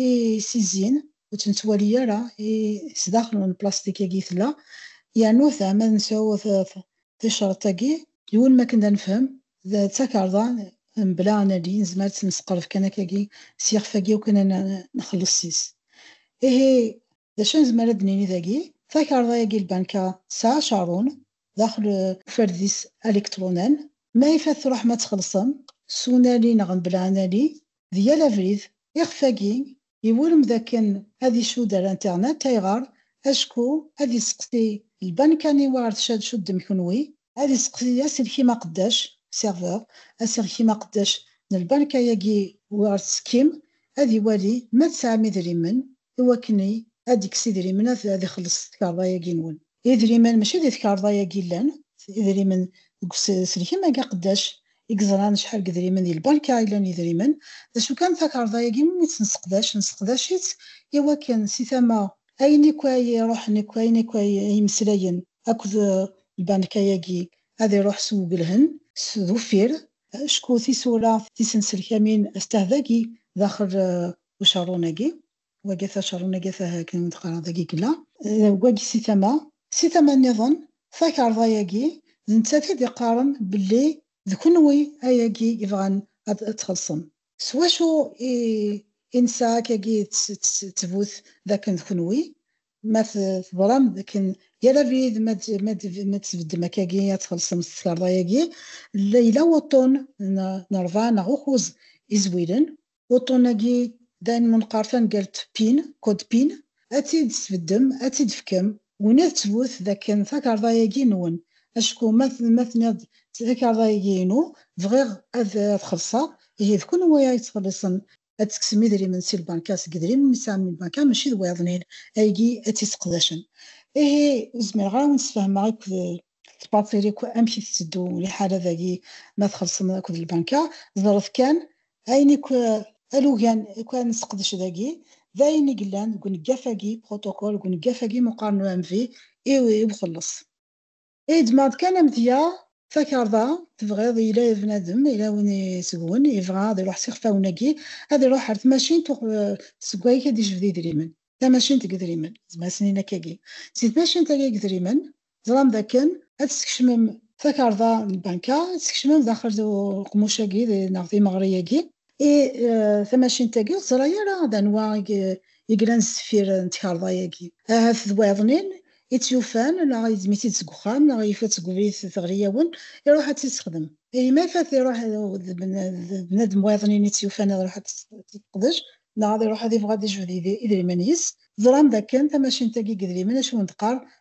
i s-izzin ur tt-nettwali ara i sdaxel n plastik-agi tella, yernu ta ma nesɛu ticreḍt agi. Yiwen makken d anefhem, d takerḍa mebla anadi, nezmer ad tt-nesqerb kan akkagi s yixef agi u kan ad nxelles sys. Ihi d acu nezmer ad d-nini dagi? Takerḍa yagi lbanka tesɛa acarun daxel uferdis alikṭrunan, ma yif ad truḥem ad txellṣem s unali neɣ mebla anali, d yal abrid, ixef agi Iwurem dakken ad isudder internet. Ayɣer? Acku ad iseqsi lbanka aniwa ar tcad cuddem kunwi. Ad iseqsi aselkim aqeddac, serveur, aselkim aqeddac n lbanka-agi wi ar tesekkim, ad iwali ma tesɛam idrimen iwakken ad ikkes idrimen ad ixelleṣ s tkarḍa-agi nwen. Idrimen mačči di tkarḍa-yagi llan, idrimen deg uselkim-agi aqeddac i yeẓran acḥal n yedrimen di lbanka i llan yedrimen, d acu kan takarḍa-agi mi tt-nesseqdac, nesseqdac-itt i wakken si tama ayen akk ay iruḥen akk, ayen akk ay yemmeslayen akk d lbanka-agi ad iruḥ s uwgelhen, s uffir, acku tisura tisenselkamin stah dagi daxel ucerrun-agi. wagi tačerun agi tahaken teqra dagi gla wagi si tama si tama niḍen takarḍa yagi d nettat i d-iqqaren belli d kunwi ayagi ibɣan ad txelṣem s wacu i i nesɛa akkagi ttbut d akken d kunwi ma teḍram d akken yal abrid ma d-tbeddem akkagi ad txelṣem s tkarḍa yagi yella wuṭṭun n ṛebɛa neɣ ukuz izwilen Uṭṭun-agi d ayen menqer tamgalt pin, code pin, ad t-id-tesbeddem, ad t-id-fkem, ula d ttbut d akken takarḍa-agi nwen, acku ma tenniḍ-d takarḍa-agi inu, bɣiɣ ad t-xellṣeɣ, ihi d kenwi ay yettxelliṣen, ad d-tekksem idrimen si lbanka, seg yedrimen i tesɛam n lbanka, maci d wayeḍnin aygi ay tt-yesseqdacen. Ihi ur zmireɣ ara ad awen-sfehmeɣ akk tettbaṭili akk amek i tetteddu liḥala dagi ma txelṣem akked lbanka, ẓret kan ayen akk alugen akk ara nesseqdec dagi d ayen i yellan deg uneggaf-agi, protocole, deg uneggaf-agi meqqar n UMV i uxelleṣ. Et demande kan amedya, takarḍa, tebɣiḍ, yella bnadem, yella win seg-wen yebɣa ad iruḥ s ixfawen-agi, ad iruḥ ar tmacint seg wayeg ad ijbed idrimen, tamacint deg idrimen, zmesnin akkagi, si tmacint-agi deg idrimen Teẓram dakken ad teskecmem takarḍa n lbanka, ad teskecmem daxel d uqmuc-agi neɣ d imeɣri-agi, i tamacint-agi ur teẓra ara d anwa i yellan sdeffir n tkarḍa-agi. Ahat d wayeḍnin i tt-yufan neɣ yeddem-itt-id seg uxxam neɣ yufa-tt deg ubrid teɣli-awen, iruḥ ad tt-yessexdem. Ihi ma ifat iruḥ d bnadem wayeḍnin i tt-yufan ad iruḥ ad tt-yeqdec neɣ ad iruḥ ad yebɣu ad yejbed idrimen yis, teẓram dakken tamacint-agi n yidrimen acu i wen-d-teqqar,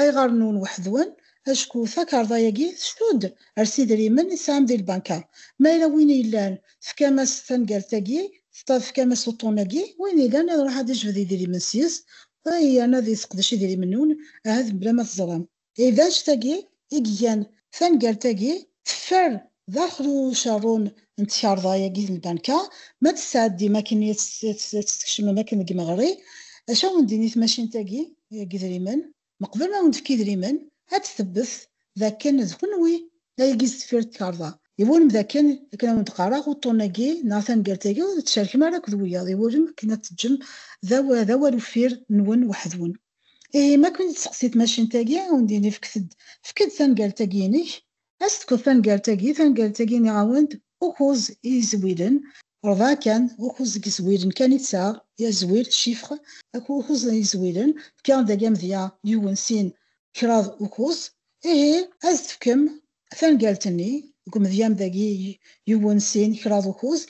Ayɣer nnun weḥd-wen? Acku takarḍa-agi tcudd ar s idrimen i tesɛam di lbanka. Ma yella win i yellan, tefkam-as tanegalt-agi, tefkam-as uṭṭun-agi, win yellan ad iruḥ ad ijbed idrimen sys, yerna ad iseqdec idrimen-nwen, ahat mebla ma teẓram. Ihi d anect-agi i igan tanegalt-agi teffer d aḥlu ucerrun n tkarḍa-agi n lbanka, ma d-tesɛeddim akken i as-tkecmem akken deg imeɣri, acu a wen-d-tini i tmacint-agi n yidrimen? Meqbel ma wen-tefk idrimen, ad d-tebbet d akken d kenwi ay is deffir n tkarḍa. Iwulem d akken, akken a wen-d-qqareɣ, uṭṭun-agi neɣ taneggartagi ur d-tcerkem ara akked wiyaḍ, iwulem akken ad t-teǧǧem d awal uffir nwen weḥd-wen. Ihi, ma ken-id-testeqsi tmacint-agi, a wen-d-tini fket-d, efk-d taneggartagi-inek, Ad s-tekkeḍ tangalt-agi, tangalt-agi nniɣ-awen-d ukuẓ i yizwilen, rebɛa kan, ukuẓ deg yizwilen kan i tesɛa, yazwir, chiffres, akked ukuẓ n yizwilen, fkiɣ-n dagi amedya yiwen, sin, kraḍ, ukuẓ, ihi ad s-tefkem tangalt-nni deg umedya-m dagi yiwen, sin, kraḍ, ukuẓ,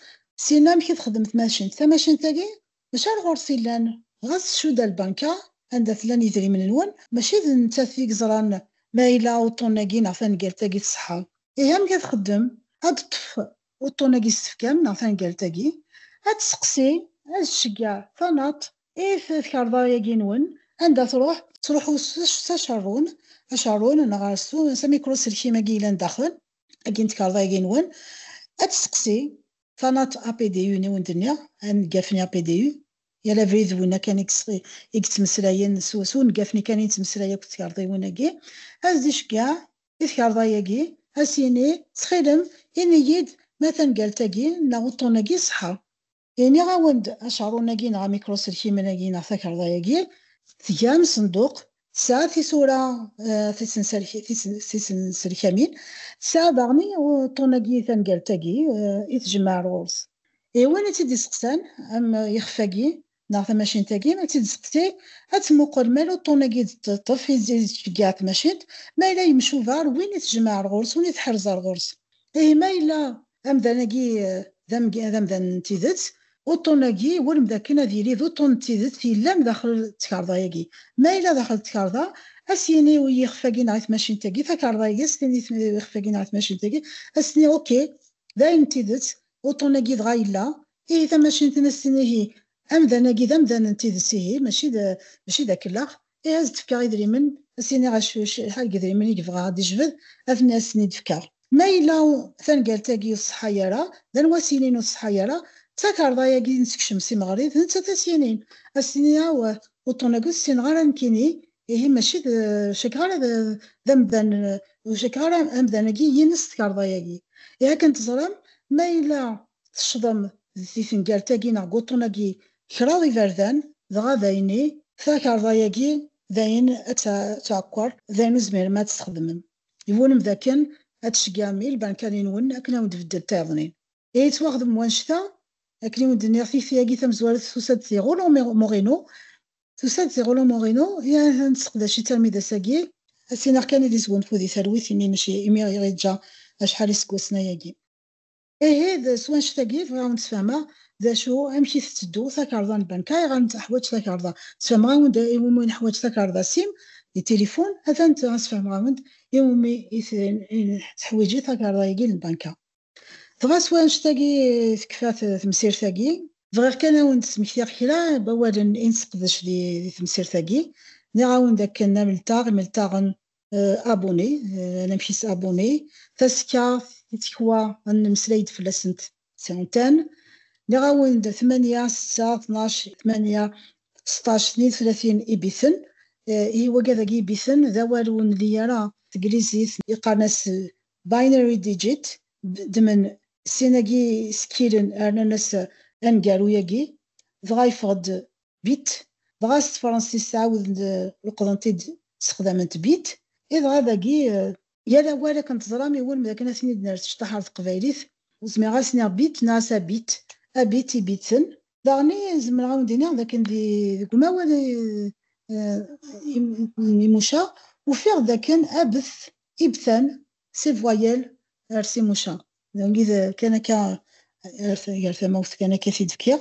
sin amek i texdem tmacint, tamacint-agi D acu ar ɣur-s illan? Ɣas tcudd-a lbanka anda tlan yidrimen-nwen, mačči d nettat i yeẓran ma yella uṭṭun-agi neɣ tangalt-agi tṣeḥḥa. Ihi amek ad txeddem? Ad d-teṭṭef uṭṭun-agi s tefkam neɣ tangalt-agi, ad tesseqsi, ad tceggeɛ tanaṭ i tkarḍa-agi-nwen, anda truḥ, tettruḥu s acerrun, acerrun neɣ s amikru-selkim-agi yellan daxel, agi n tkarḍa-agi-nwen, ad tesseqsi Tanaḍt APDU i wen-d-nniɣ, aneggaf-nni APDU, yal abrid d winna kan i yettmeslayen, s uneggaf-nni kan i nettmeslay akked tkerḍiwin-agi, ad d-iceggeɛ i tkerḍa-agi, ad s-yini, Ttxil-m, ini-yi-d ma tangalt-agi neɣ uṭṭun-agi iṣeḥḥa. Iniɣ-awen-d, acaṛun-agi neɣ amikruselkimen-agi neɣ takerḍa-agi, tga amsenduq Tesɛa tisura tisenselkamin, tesɛa daɣen i uṭṭun-agi, tamgalt-agi i tjemmeɛ ar ɣur-s. I win i tt-id-isteqsan, am ixef-agi neɣ tamacint-agi, ad tt-id-isteqsi, ad temmuqel ma yella uṭṭun-agi i d-teṭṭef, i d-tettceggiɛ tmacint, ma yella yemcuba ar win i tjemmeɛ ar ɣur-s, win i tḥerrez ar ɣur-s. Ihi ma yella amdan-agi d amdan n tidet, uṭṭun-agi iwulem dakken ad yili d uṭṭun n tidet yellan daxel n tkarḍa-agi. Ma yella daxel n tkarḍa, ad s-yini i yixef-agi neɣ i tmacint-agi, takarḍa-agi ad s-tini i yixef-agi neɣ i tmacint-agi, ad s-tini ok, d ayen n tidet, uṭṭun-agi dɣa yella, ihi tamacint-nni ad s-tini ihi amdan-agi d amdan n tidet ihi, mačči d akellax. Ihi ad d-fkeɣ idrimen, ad s-iniɣ acḥal n yidrimen i yebɣa ad d-ijbed, ad ten-asen-id-fkeɣ. Ma yella tangalt-agi ur tṣeḥḥa ara, d anwa ad s-yinin ur tṣeḥḥa ara? D takarḍa-agi i nesekcem si Meɣri, d nettat ad s-yinin. Ad s-tini awah, uṭṭun-agi ur t-ssineɣ ara nekkini, ihi mačči d, ur cakkeɣ ara d amdan, ur cakkeɣ ara amdan-agi yines tkarḍa-agi. Ihi akken teẓram, ma yella teccḍem di tengalt-agi neɣ deg wuṭṭun-agi Kraḍ iberdan, dɣa d ayen i. Takarḍa-yagi d ayen ad tɛekkeṛ, d ayen ur tezmirem ad t-txedmem. Yewwulem d akken ad tceggɛem i lbankali-nwen akken ad wen-d-tbeddel tayeḍnin. I yettwaxdem wannect-a, akken i wen-d-nniɣ tikti-agi tamezwarut tusa-d di Rolland Moreno, tusa-d di Rolland Moreno, i ahat nesseqdac-itt armi d ass-agi. Ad s-iniɣ kan ad yesgunfu di talwit imi mačči imi i ɣ-yeǧǧa acḥal iseggasen ayagi. Ihi d s wanect-agi bɣiɣ ad wen-d-sfehmeɣ d acu, amek i tetteddu takerḍa n lbanka, ayɣer nettaḥwaǧ takerḍa. Sfehmeɣ-awen-d iwumi i neḥwaǧ takerḍa sim d tilifun, atan tura sfehmeɣ-awen-d iwumi i teḥwiǧi takerḍa-agi n lbanka. Dɣa s wanect-agi tekfa temsirt-agi. Bɣiɣ kan ad wen-d-smektiɣ kra n wawalen i nesseqdec di temsirt-agi. Nniɣ-awen-d akken amlteɣ, imelteɣen, abuni anamek is abuni taska tikwa ad nemmeslay-d fell-asent ttɛuntan nniɣ-awen-d tmanya setta tnac tmanya seṭṭac tnin tlatin ibiten ihi wagi dagi ibiten d awal ur nli ara teglizit iqqaren-as binary digit ddmen sin-agi skkilen rnan-as aneggaru-agi dɣa yeffeɣ-d bit, dɣa s tefransist ɛawdent leqḍent-id ssexdament bit, i dɣa dagi. Yal awal akken teẓram iwulem dakken ad ten-id-nerr s cṭaḥ ɣer teqbaylit, ur zmireɣ ad s-niɣ bit neɣ as abit, abit, ibiten. Daɣen i zemreɣ a wen-d-iniɣ dakken deg umawal n Imuca ufiɣ-d dakken abet, ibtan, c'est voyelle ers Imuca, d wagi kan akka gar tamawt kan akka i t-id-fkiɣ.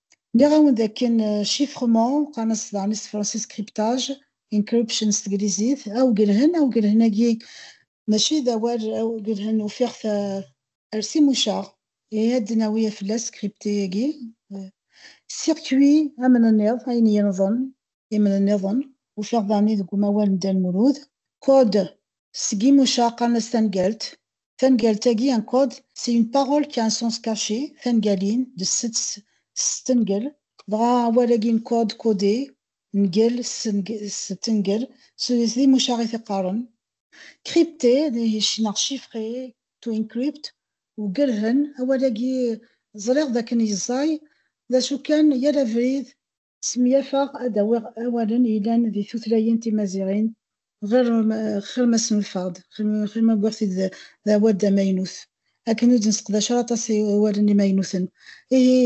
Nniɣ-awen d akken chiffrement, qqaren-as daɣen s tefransist cryptage, encryption s teglizit, awgelhen, awgelhen-agi mačči d awal awgelhen ufiɣ-t ar timucaɣ, ihi ad d-nawi fell-as crypté-agi, circuit amnenniḍ, ayen yenḍen, imnenniḍen, ufiɣ daɣen-i deg umawal n Dda Lmulud, code seg yimucaɣ qqaren-as tangalt, Tanegalt-agi, en code, c'est une parole qui a un sens caché, tangalin, de stengal, dɣa awal-agi en code, codé, ngal, stengal, d imucaɣ i t-iqqaren. Crypté, neɣ chiffré, to encrypt, ugerhen, awal-agi ẓriɣ d akken yeẓẓay, d acu kan yal abrid Smenyafeɣ ad d-awiɣ awalen yellan di tutlayin timaziɣin ɣer xir ma snulfeɣ-d, xir ma wwiɣ-t-id d awal d amaynut, akken ur d-nesseqdac ara aṭas n iwalen imaynuten. Ihi,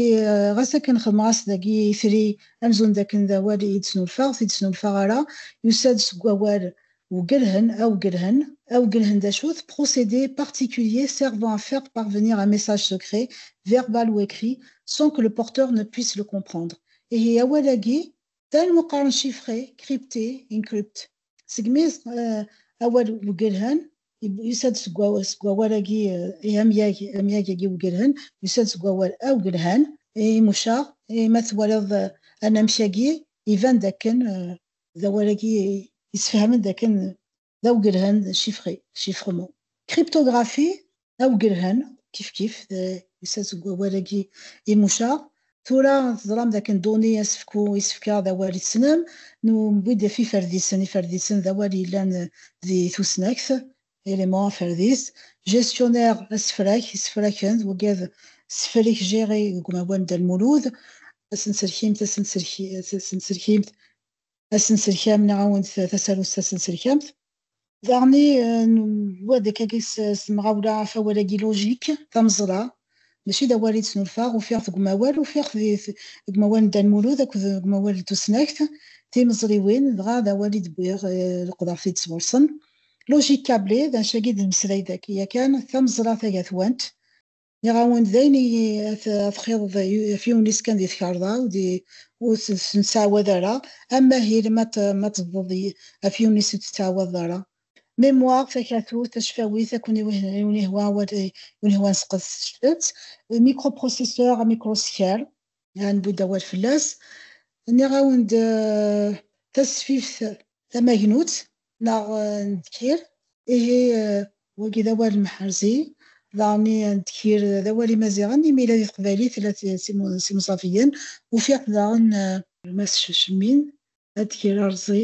ɣas akken xedmeɣ-as dagi itri amzun d akken d awal i d-snulfeɣ, ur t-id-snulfeɣ ara, yusa-d seg wawal Wgelhen, awgelhen, Awgelhen d acu-t? Procédé particulier servant à faire parvenir un message secret, verbal ou écrit, sans que le porteur ne puisse le comprendre. Ihi awal-agi d anweqqaren chiffré, crypté, encrypt. Segmi awal wgelhen yusa-d seg wawal-agi, ihi amyag, amyag-agi wgelhen yusa-d seg wawal awgelhan, imucaɣ, ihi ma twalaḍ anamek-agi iban-d akken d awal-agi yessefhamen d akken d awgelhen d chiffré, chiffrement. Cryptographie d awgelhen kifkif yusa-d seg wawal-agi imucaɣ. Tura teẓram d akken données asefku, isefka, d awal i tessnem. Newwi-d ɣef iferdisen, iferdisen d awal yellan di tusnakt, élément aferdis, gestionnaire asefrak, isefraken, weggad sefrik gérer deg umawal n Dda Lmulud, asenselkimt, asenselkimt, asenselkam neɣ awent tasarut tasenselkamt. Daɣen wad akka s temɣawla afawal-agi logique, tameẓla, mačči d awal i d-snulfaɣ, ufiɣ-t deg umawal, ufiɣ-t deg umawal n Dda Lmulud akked deg umawal n tusnakt timeẓriwin, dɣa d awal i d-wwiɣ, leqḍeɣ-t-id sɣur-sen. Logique câblée, d anect-agi d-nemmeslay dagi yakan, tameẓra tagatwant. Nniɣ-awen-d d ayen i txiḍeḍ ɣef yiwen-is kan di tkarḍa ur t-nettɛawad ara, am Mahil ma tebḍeḍ ɣef yiwen-is ur t-tettɛawadeḍ ara, Mémoire, takatut, tacfawit, akk n unihwa nesqed s-tt. Microprocesseur, amikruskal, ad nbu-d awal fell-as. Nniɣ-awen-d tasfift tamagnut neɣ n ddkir. Ihi, wagi d awal n Mḥerzi, daɣen i n ddkir d awal imaziɣen, imi yella di teqbaylit tella s imẓaviyen. Ufiɣ-t daɣen. Mass Cemmin, addkir arẓi.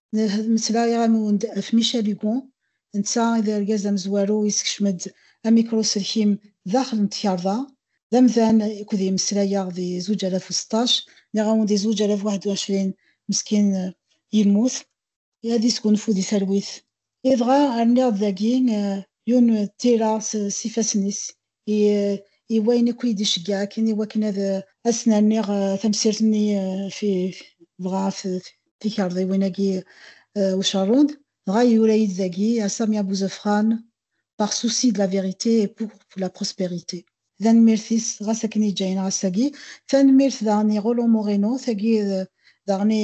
Ad meslayeɣ am-wen-d ɣef Michel Hugo, netta i d argaz amezwaru yeskecmen-d amikruselkim daxel n tkerḍa, d amdan i k-d-yemmeslayeɣ di zuǧ alaf u seṭṭac, nniɣ-awen di zuǧ alaf waḥed u ɛecrin meskin yemmut. Ad yesgunfu di talwit. Dɣa rniɣ-d dagi yiwen n tira s ifassen-is, i, i wayen akk i d-iceggeɛ akken i wakken ad asen-rniɣ tamsirt-nni fi dɣa ɣef tikerḍiwin-agi ucerrun, dɣa yura-yi-d dagi à Samia Bouzefran par souci de la vérité et pour la prospérité. D anemmirt-is ɣas akken yeǧǧa-yi-n ɣas-agi. Tanemmirt daɣen i Rolland Moreno, tagi daɣen i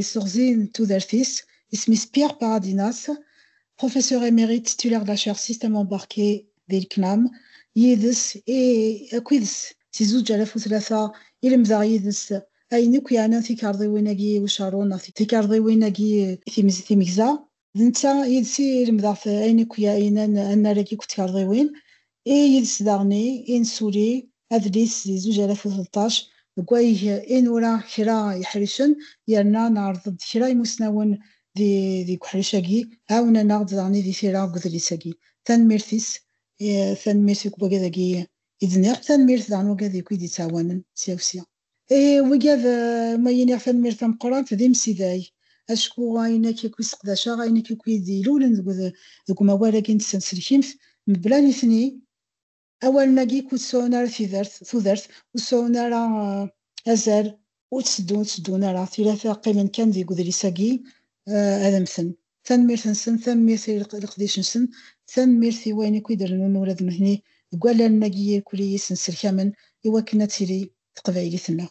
Iseɣzi n tudert-is, isem-is Pierre Paradinas, professeur émérite titulaire de la chaire Système embarqué di LCNAM, yid-s i akk ides si zuǧ alaf u tlata i lemdeɣ yid-s ayen akk yeɛnan tikerḍiwin-agi i ucerru neɣ tikerḍiwin-agi i timegza, d netta yid-s i lemdeɣ t ayen akk ya inan anarag akk d tkerḍiwin, i yid-s daɣen i i nesuli adlis di zuǧ alaf u tleṭṭac deg wayeg i nura kra yeḥricen yerna neɛreḍ-d kra imusnawen di deg uḥric-agi ɛawnen-aɣ-d daɣen i di tira deg udlis-agi. Tanemmirt-is i tanemmirt i wagi dagi i d-nniɣ, tanemmirt daɣen wagi dagi i d-yettɛawanen sya u sya. E wiga d ma iniɣ tanemmirt tameqqrant d imsidag, acku ayen akk i seqdaceɣ, ayen akk i d-ilulen deg umawal-agi n tsenselkimt, mebla nitni, awalen-agi ur ttesɛun ara tudert, ur ttesɛun ara azal, ur tteddun ara, tirata qqimen kan deg udlis-agi ad mmten, Tanemmirt-nsen, tanemmirt i leqdic-nsen, tanemmirt i wayen akk i d-rennun ula d nutni deg wallalen-agi irkul i yi-ssenserkamen i wakken ad tili teqbaylit-nneɣ.